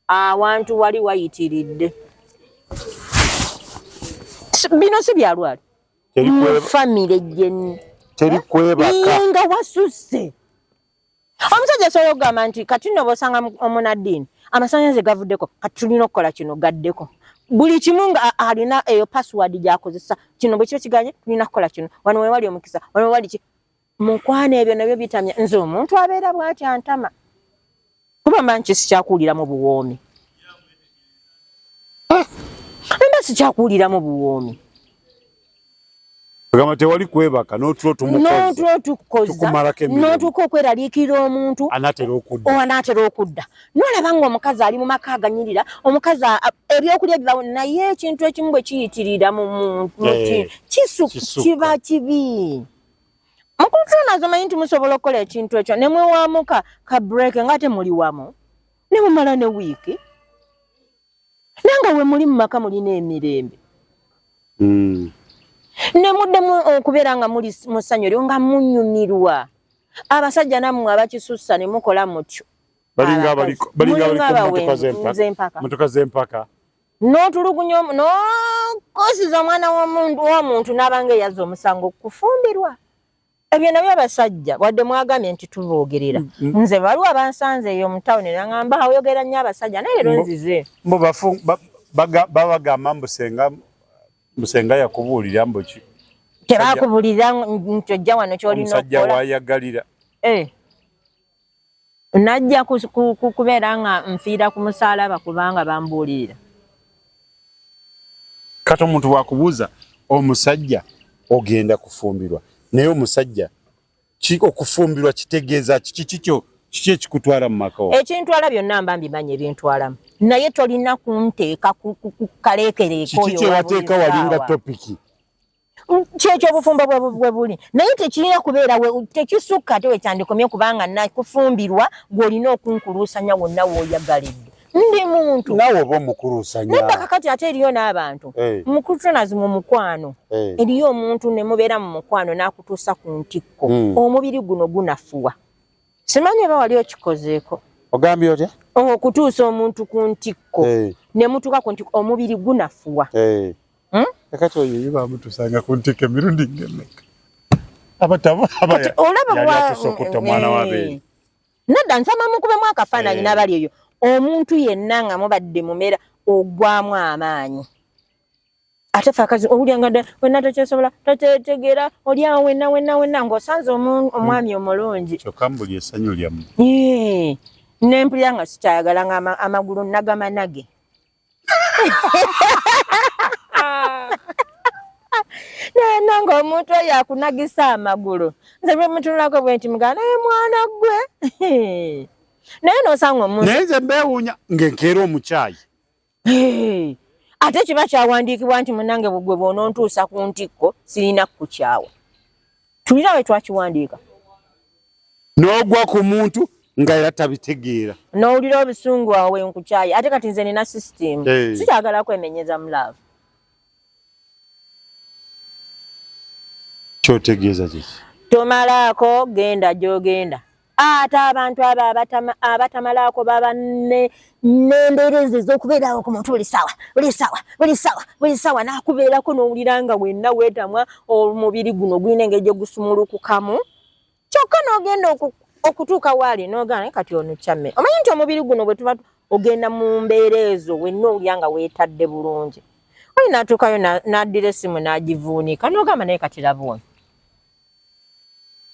awantu wali wayitiridde bino si byalwali mu famire gyenni tebikwebaka nga wasusse omusajja asobola okugamba nti kati nno bosanga omunaddiini amasanyalaze gavuddeko kati tulina okukola kino gaddeko buli kimu nga alina eyo password gyakozesa kino bwekiba kiganye tulina kukola kino wano wewali omukisa wano wewali ki mukwana ebyo nabyo bitamya nze omuntu abeera bwati antama kuba manyi kisikyakuwuliramu buwoomi ah! amba sikyakuwuliramu buwoomi agamba tewali kwebaka notulo tumukozetukumalakenotuuka okweraliikirira omuntu anaatera okudda nolaba nga omukazi ali mu maka aganyirira omukazi ebyokulya bibawo naye ekintu ekimu bwe kiyitirira mu muntu eh, kisu kiba kibi mukulutulana azomanyi nti musobola okukola ekintu ekyo ne mwewamuka ka break nga ate muli wamu ne mumala ne wiiki naye nga we muli mu maka mulina emirembe hmm. ne muddemu okubeera nga muli mu ssanyu eryo nga munyumirwa abasajja nammwe abakisussa ne mukola mutyo balinga abaliko balinga abaliko mutuka z'empaka n'otulugunya n'okosiza omwana w'omuntu n'aba nga eyazza omusango kufumbirwa ebyo nabyo abasajja wadde mwagambye nti tuboogerera mm, mm. nze waliwo abansanze eyo mu tawuni nangamba oyogera nnyo abasajja naye leero nzize mbu babagamba mbu senga mbu senga yakubuulira mbu ki tebakubuulira nti ojja wano kyolina omusajja wayagalira eh. najja kubeera nga nfiira ku musaalaba kubanga bambuulirira kati omuntu wakubuuza omusajja ogenda kufumbirwa naye omusajja okufumbirwa kitegeeza kiki kikyo kiki ekikutwala mu maka ekintwala byonna mba mbimanyi ebintwalamu naye tolina kunteeka kukaleekereeko oyo kiki kyewateeka walinga topiki kyekyo obufumbo bwe buli naye tekirina kubeera tekisukka ate wekyandikomye kubanga nakufumbirwa gweolina okunkuluusanya wonna woyagalidde ndi muntu nawe oba omukuluusanyabakakati ate eriyo n'abantu eh. mukulutonazi mu mukwano eh. eriyo omuntu ne mubeera mu mukwano n'akutuusa ku ntikko hmm. omubiri guno gunafuwa simanyi oba wali okikozeeko ogambye otya okutuusa omuntu ku ntikko eh. ne mutuuka ku ntikko omubiri gunafuwa hmm? kakati oyo ye bamutusanga ku ntikko emirundi ngemeka abatabo abayatusokutta omwana eh, wabeeri nadda nsama mukubemu akafaananyi eh. n'abali eyo omuntu yenna nga mubadde mumera ogwamu amaanyi ate fe akazi owulya nga wenna tokyesobola tokyetegeera olyawo wenna wenna wenna ng'osanze omwami hmm. omulungi kyokka mbuli esanyu lyamu nempulira nga sikyayagala nga amagulu nagamanage naye nange omuntu oyo akunagisa amagulu nze bwemutunulako bwe nti mugana naye mwana gwe naye nosanga omuntu naye nze mbewunya ngenkeera omukyayi ate kiba kyawandiikibwa nti munange bugwe bwonontuusa ku ntikko sirina kukukyawa tulina we twakiwandiika n'ogwa ku muntu nga era tabitegeera n'owulira obusungu awe nkukyayi ate kati nze nina system hey. Eh. sikyagala kwemenyeza mu love kyotegeeza kiki tomalaako genda gyogenda ate abantu abo abatamalaako baba nembeera ezo ezokubeerawo ku muntu buli sawa buli sawa buli sawa buli sawa nakubeerako nowulira nga wenna wetamwa omubiri guno gulina engeri gyegusumulukukamu kyokka nogenda okutuuka waali nogana kati ono kyamme omanyi nti omubiri guno bwetuba ogenda mu mbeera ezo wenna owulira nga wetadde bulungi oyi natuukayo naddira esimu nagivuunika nogamba naye kati labuuni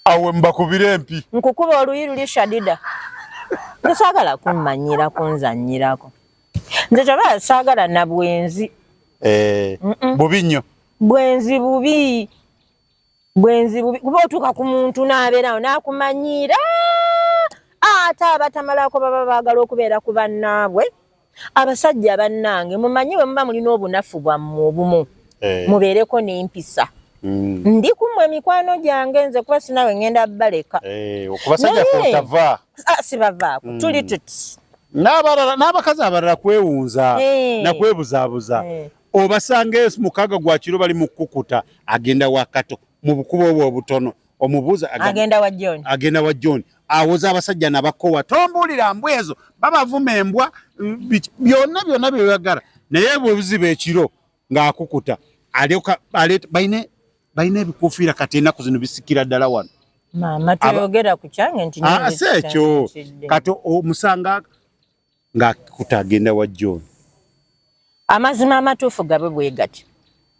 awe mbakubire empi nkukuba oluyi luli shadida tosagala kummanyira kunzanyirako nze kyobala sagala na bwenzi eh, bubi nnyo bwenzi bubi bwenzi bubi kuba otuuka ku muntu n'abeerawo n'akumanyiira ate abatamalako baba baagala okubeera ku bannaabwe abasajja bannange mumanyi bwe muba mulina obunafu bwammwe obumu eh. mubeereko n'empisa mm. ndi kumwe emikwano gyange nze kuba sinawe ngenda baleka eh, ah, sibavaako mm. tuli tuti n'abakazi abalala kwewunza eh. nakwebuzaabuza obasanga mukaga gwa kiro bali mu kukuta agenda wakato mu bukubo obwo obutono omubuuza agenda wa John agenda wa John awoza abasajja nabakowa tombuulira mbwa ezo babavuma embwa byonna byonna byoyagala naye bwebuziba ekiro ng'akukuta alyoka balina balina ebikufiira kati enaku zino bisikira ddala wano maama toyogera ku kyange nti ah, si ekyo kati omusanga nga kuta agenda wa John amazima amatuufu gabe bwegati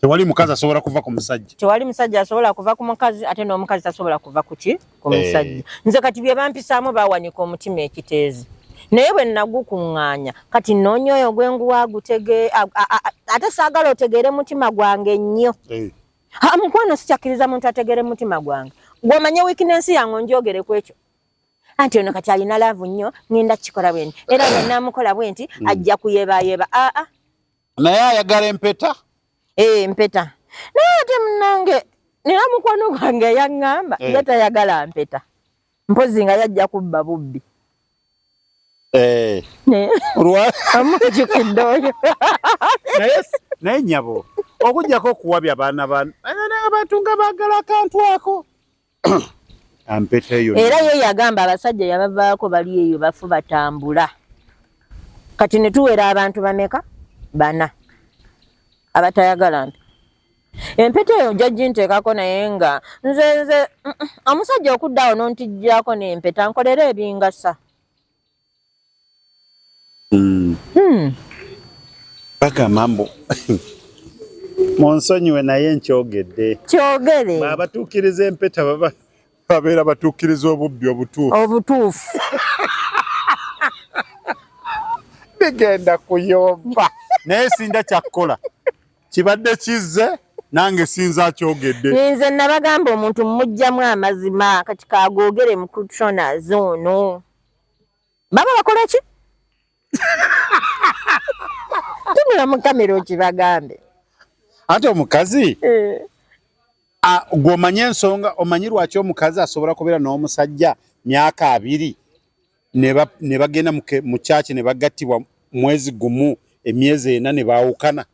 tewali mukazi asobola kuva ku musajja tewali musajja asobola kuva ku mukazi ate n'omukazi tasobola kuva kuki ku eh. musajja hey. nze kati bye bampisaamu bawanika omutima ekiteezi naye bwe nagukuŋŋaanya kati nnoonya oyo gwe nguwa agutege ate saagala otegeere mutima gwange nnyo hey. ha mukwano sikyakkiriza muntu ategeere mutima gwange gwomanyi wiikinensi yange onjogere ku ekyo anti ono kati alina laavu nnyo ngenda kukikola bwenti era bwe naamukola bwenti mm. ajja kuyeebayeeba aa ah, ah. naye ayagala empeta ee eh, mpeta naye ate munange nina mukwano gwange yaŋŋamba eh. ye tayagala mpeta mpozi nga yajja kubba bubbi eh. amujukidde oyo naye nyabo okujjako okuwabya abaana abantu nga baagala akantu ako era ye yagamba abasajja yabavaako bali eyo bafu batambula kati ne tuwera abantu bameka bana abatayagala nti empeta eyo jajji nteekako naye nga nze nze omusajja okuddawo nontijjako nempeta nkolera ebingasa Mm. Hmm. Paka mambo munsonyiwe naye nkyogedde kyogere abatuukiriza empeta baba babeera batuukiriza obubbi obutuufu obutuufu bigenda kuyomba naye sinda kyakkola kibadde kizze nange sinza akyogedde nze nabagamba omuntu mumugjamu amazima kati kagogere mu kutronas ono baba bakola ki tunula mu kamera okibagambe ate omukazi eh. gwe omanye ensonga omanyi lwaki omukazi asobola kubeera n'omusajja myaka abiri ne bagenda mu kyaki ne bagattibwa mwezi gumu emyezi ena ne baawukana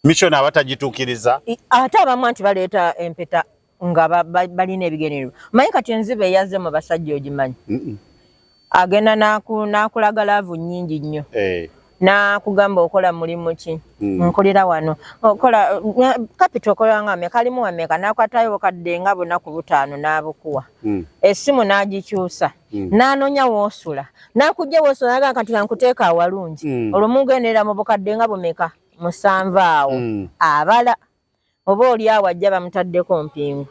mission aba tagitukiriza ate abamu nti baleeta empeta nga balina ebigenero manyi kati enziba eyazze mu basajja ogimanyi agenda nakulaga laavu nyingi nnyo eh. nakugamba okola mulimu ki mm. nkulira wano okola kapita okola nga meka alimu wameka nakwatayo bukadde nga bunaku butaano n'abukuwa mm. essimu n'agikyusa Mm. n'anoonya woosula n'akujja woosula naga kati kankuteeka awalungi mm. olwo mugenderera mu bukadde nga bumeka musanvu awo mm. abala oba oli awo ajja bamutaddeko mpingu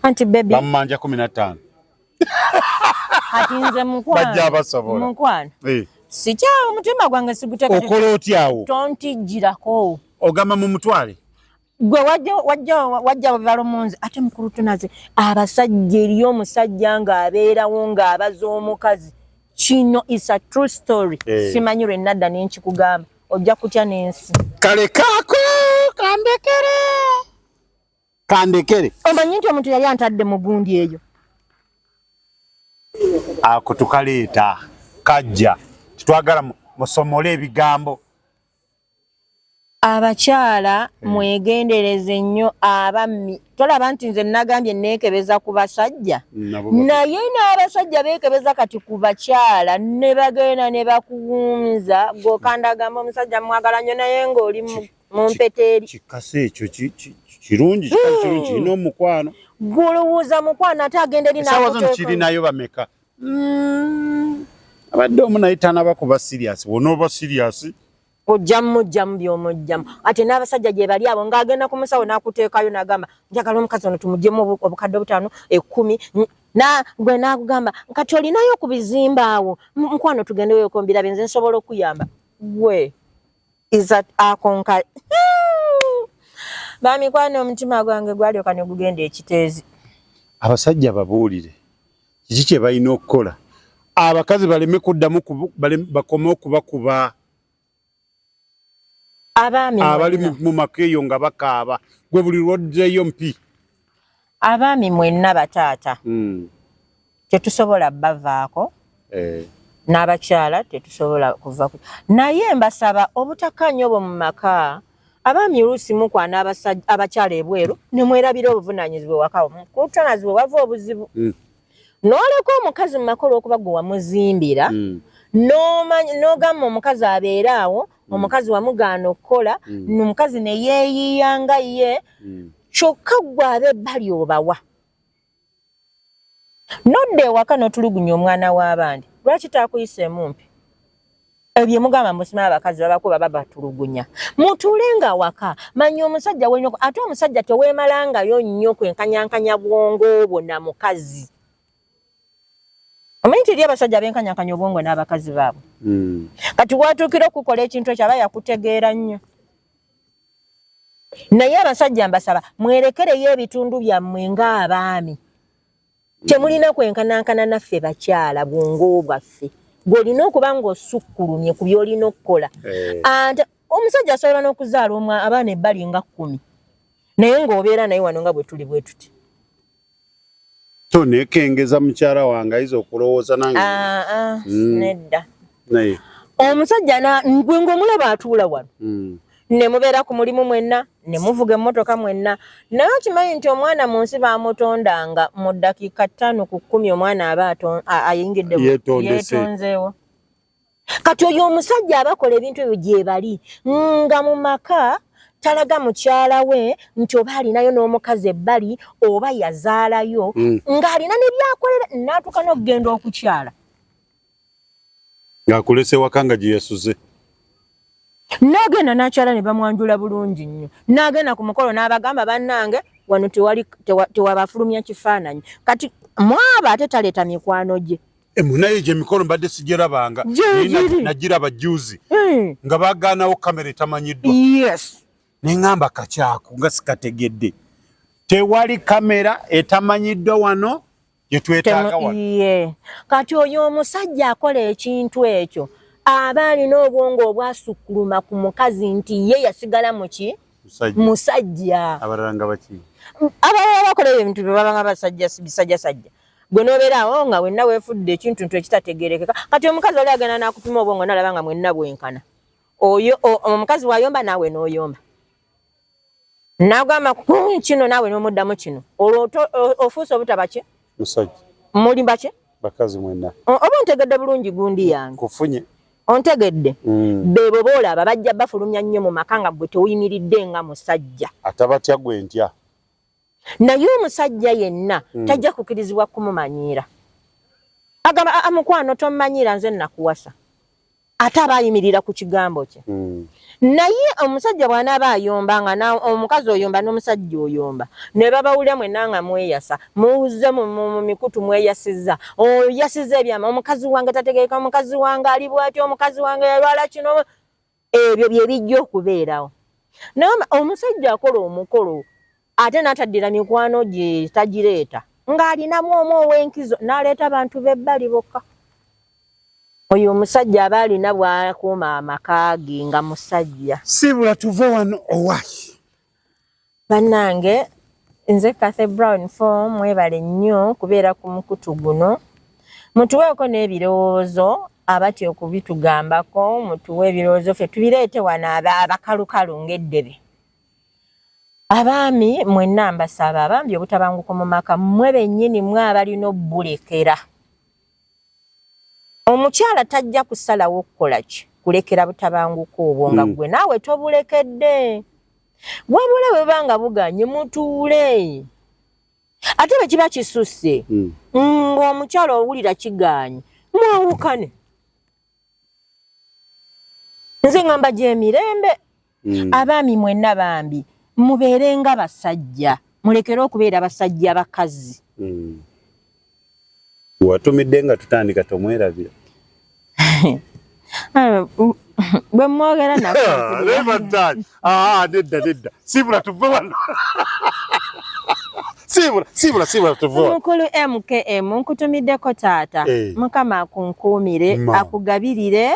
anti bebibamumanja kumi nattaano kati nze mukwano sikyawo omutima gwange siguteokola otyawo tontijjirako ogamba mu mutwale gwe wajja wajja wajja balo munzi ate mukulu tunaze abasajja eri omusajja nga abeerawo nga abaza omukazi kino is a true story hey. Eh. simanyi lwe nadda nenkikugamba ojja kutya n'ensi kale kaako kandekere kandekere omanyi nti omuntu yali antadde mu gundi eyo ako tukaleeta kajja titwagala musomole ebigambo Abakyala hmm. mwegendereze nnyo abammi. Tolaba nti nze nagambye neekebeza ku basajja naye n'abasajja beekebeza kati ku bakyala ne bagenda ne bakuwunza gokanda agamba omusajja mwagala nnyo naye ng'oli mu mpeta eri. Kikasa ekyo kirungi kirungi hmm. kirina omukwano. Gwolowooza mukwano ate agenda eri n'akuteeka. Esawa zino kirinayo bameka? Mm. abadde omu naye tanaba kuba siriasi wona oba siriasi ojjamu mujjamu byomujjamu ate n'abasajja gye bali abo ng'agenda ku musawo n'akuteekayo n'agamba njagala omukazi ono tumugyemu obukadde obutaano ekkumi gwe n'akugamba kati olinayo ku bizimba awo mukwano tugende weyokombira benze nsobola okuyamba gwe isat akonka bamikwano omutima gwange gwalyoka ne gugenda ekiteezi abasajja babuulire kiki kye balina okukola abakazi baleme kuddamu bakome okubakuba abaami abali mu maka eyo nga bakaaba gwe buli lwoddeyo mpi abaami mwenna bataata hmm. tetusobola bavaako eh. n'abakyala tetusobola kuva naye mbasaba obutakanya obwo mu maka abaami oluusi mukwana abakyala ebweru nemwerabira obuvunanyizibwa ewakawo kutanazibwa wava obuzibu mm. noleka omukazi mumaka olwokuba gwe wamuzimbira mm. nogamba omukazi abeere awo mm. omukazi wamugaana okukola omukazi neyeyiya nga ye kyokka gwe abebbali obawa nodda ewaka notulugunya omwana wabandi lwaki takuyisa emumpi ebyo mugamba musima abakazi babakuba babatulugunya mutuule nga waka manya omusajja wenyoko ate omusajja tewemalangayo nnyo kwenkanyankanya bwongo obwo na mukazi omanyi tiri abasajja benkanyankanya obwongo n'abakazi baabwe hmm. kati watuukira okukola ekintu ekyo aba yakutegeera nnyo naye abasajja mbasaba mwerekereyo ebitundu byammwe ng'abaami temulina kwenkanankana naffe bakyala bwongo bwaffe gwolina okuba ng'osukkulumye ku byolina okukola eh. ante omusajja asobola n'okuzaala omwa abaana ebbali nga kkumi naye ng'obeera naye wano nga bwe tuli bwe tuti to nekengeza mukyala wange ayiza okulowooza nange ah, ah, mm. nedda naye omusajja gwe ng'omulaba atuula wano mm. ne mubeera ku mulimu mwenna ne muvuga emmotoka mwenna naye okimanyi nti omwana mu nsi baamutondanga mu ddakiika ttaano ku kkumi omwana aba ayingidde yeetonzeewo kati oyo omusajja abakola ebintu ebyo gyebali nga mu maka talaga mukyala we nti oba alinayo n'omukazi ebbali oba yazaalayo mm. ng'alina ne byakolera n'atuuka n'okugenda okukyala ng'akulese waka nga gye yasuze n'agenda n'akyala ne bamwanjula bulungi nnyo n'agenda ku mukolo n'abagamba bannange wano tewabafulumya kifaananyi kati mwaba ate taleeta mikwano gye emunaye gye mikolo mbadde sijerabanga najiraba juzi eh. nga bagaanawo kamera etamanyiddwa neŋamba kakyako nga sikategedde tewali kamera etamanyiddwa wano gyetwetaaga wano kati oyo omusajja akola ekintu ekyo aba alina obwongo obwasukkuluma ku mukazi nti ye yasigala muki musajja abalala bakola ebintu bye babanga basajja bisajjasajja gwe nobeeraawo oh, nga wenna weefudde ekintu ntu ekitategerekeka kati omukazi oli agenda nakupima obwongo nalaba nga mwenna bwenkana oyo omukazi wayomba naawe noyomba nagamba hmm, kino naawe nomuddamu kino olwo ofuuse obutabaki musajja muli baki bakazi mwenna oba ontegedde bulungi gundi yange kufunye ontegedde mm. bebo boolaba bajja bafulumya nnyo mu maka nga gwe tewuyimiridde nga musajja atabatya gwe ntya naye omusajja yenna mm. tajja kukirizibwa kumumanyiira agamba aa mukwano tomumanyiira nze nakuwasa ate aba ayimirira ku kigambo kye mm. naye omusajja bwanaaba ayomba nga omukazi oyomba n'omusajja oyomba ne babawulira mwena nga mweyasa muwuze mu mikutu mweyasiza oyasiza ebyama omukazi wange tategeeka omukazi wange ali bwati omukazi wange yalwala kino ebyo bye bijja okubeerawo naye omusajja akola omukolo ate n'ataddira mikwano gye tagireeta ng'alinamu omu ow'enkizo n'aleeta bantu b'ebbali bokka oyo omusajja aba alina bw'akuuma amaka ge nga musajja siibula tuve wano owaye bannange nze cathy brown fo mwebale nnyo kubeera ku mukutu guno mutuweeko n'ebirowoozo abatya okubitugambako mutuwe ebirowoozo ffe tubireete wano abakalukalu ng'eddebe abaami mwenna mbasaba bambi obutabanguko mu maka mmwe bennyini mwe abalina obbulekera omukyala tajja kusalawo okukolaki kulekera butabanguko obwo nga mm. gwe naawe tobulekedde wabula bweba nga buganye mutuule ate bwe kiba kisusse mm. ng'omukyala owulira kiganye mwawukane nze ngamba gyemirembe mm. abaami mwenna bambi mubeere nga basajja mulekere okubeera basajja bakazi mm. watumidde nga tutandika tomwerabira ah, bwe mwogera nakuba Ah, ah nedda nedda. Sibula tuve wano. Sibula, sibula, sibula tuve wano. Mukulu MKM nkutumiddeko taata. Hey. Eh. Mukama akunkuumire, akugabirire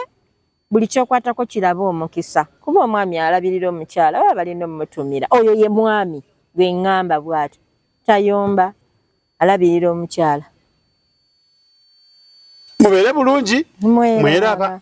buli kyokwatako kirabe omukisa. Kuba omwami alabirira omukyala oba balina omutumira. Oyo ye mwami gwe ngamba bwati. Tayomba alabirira omukyala. Mubere bulungi. Mweraba. Mweraba.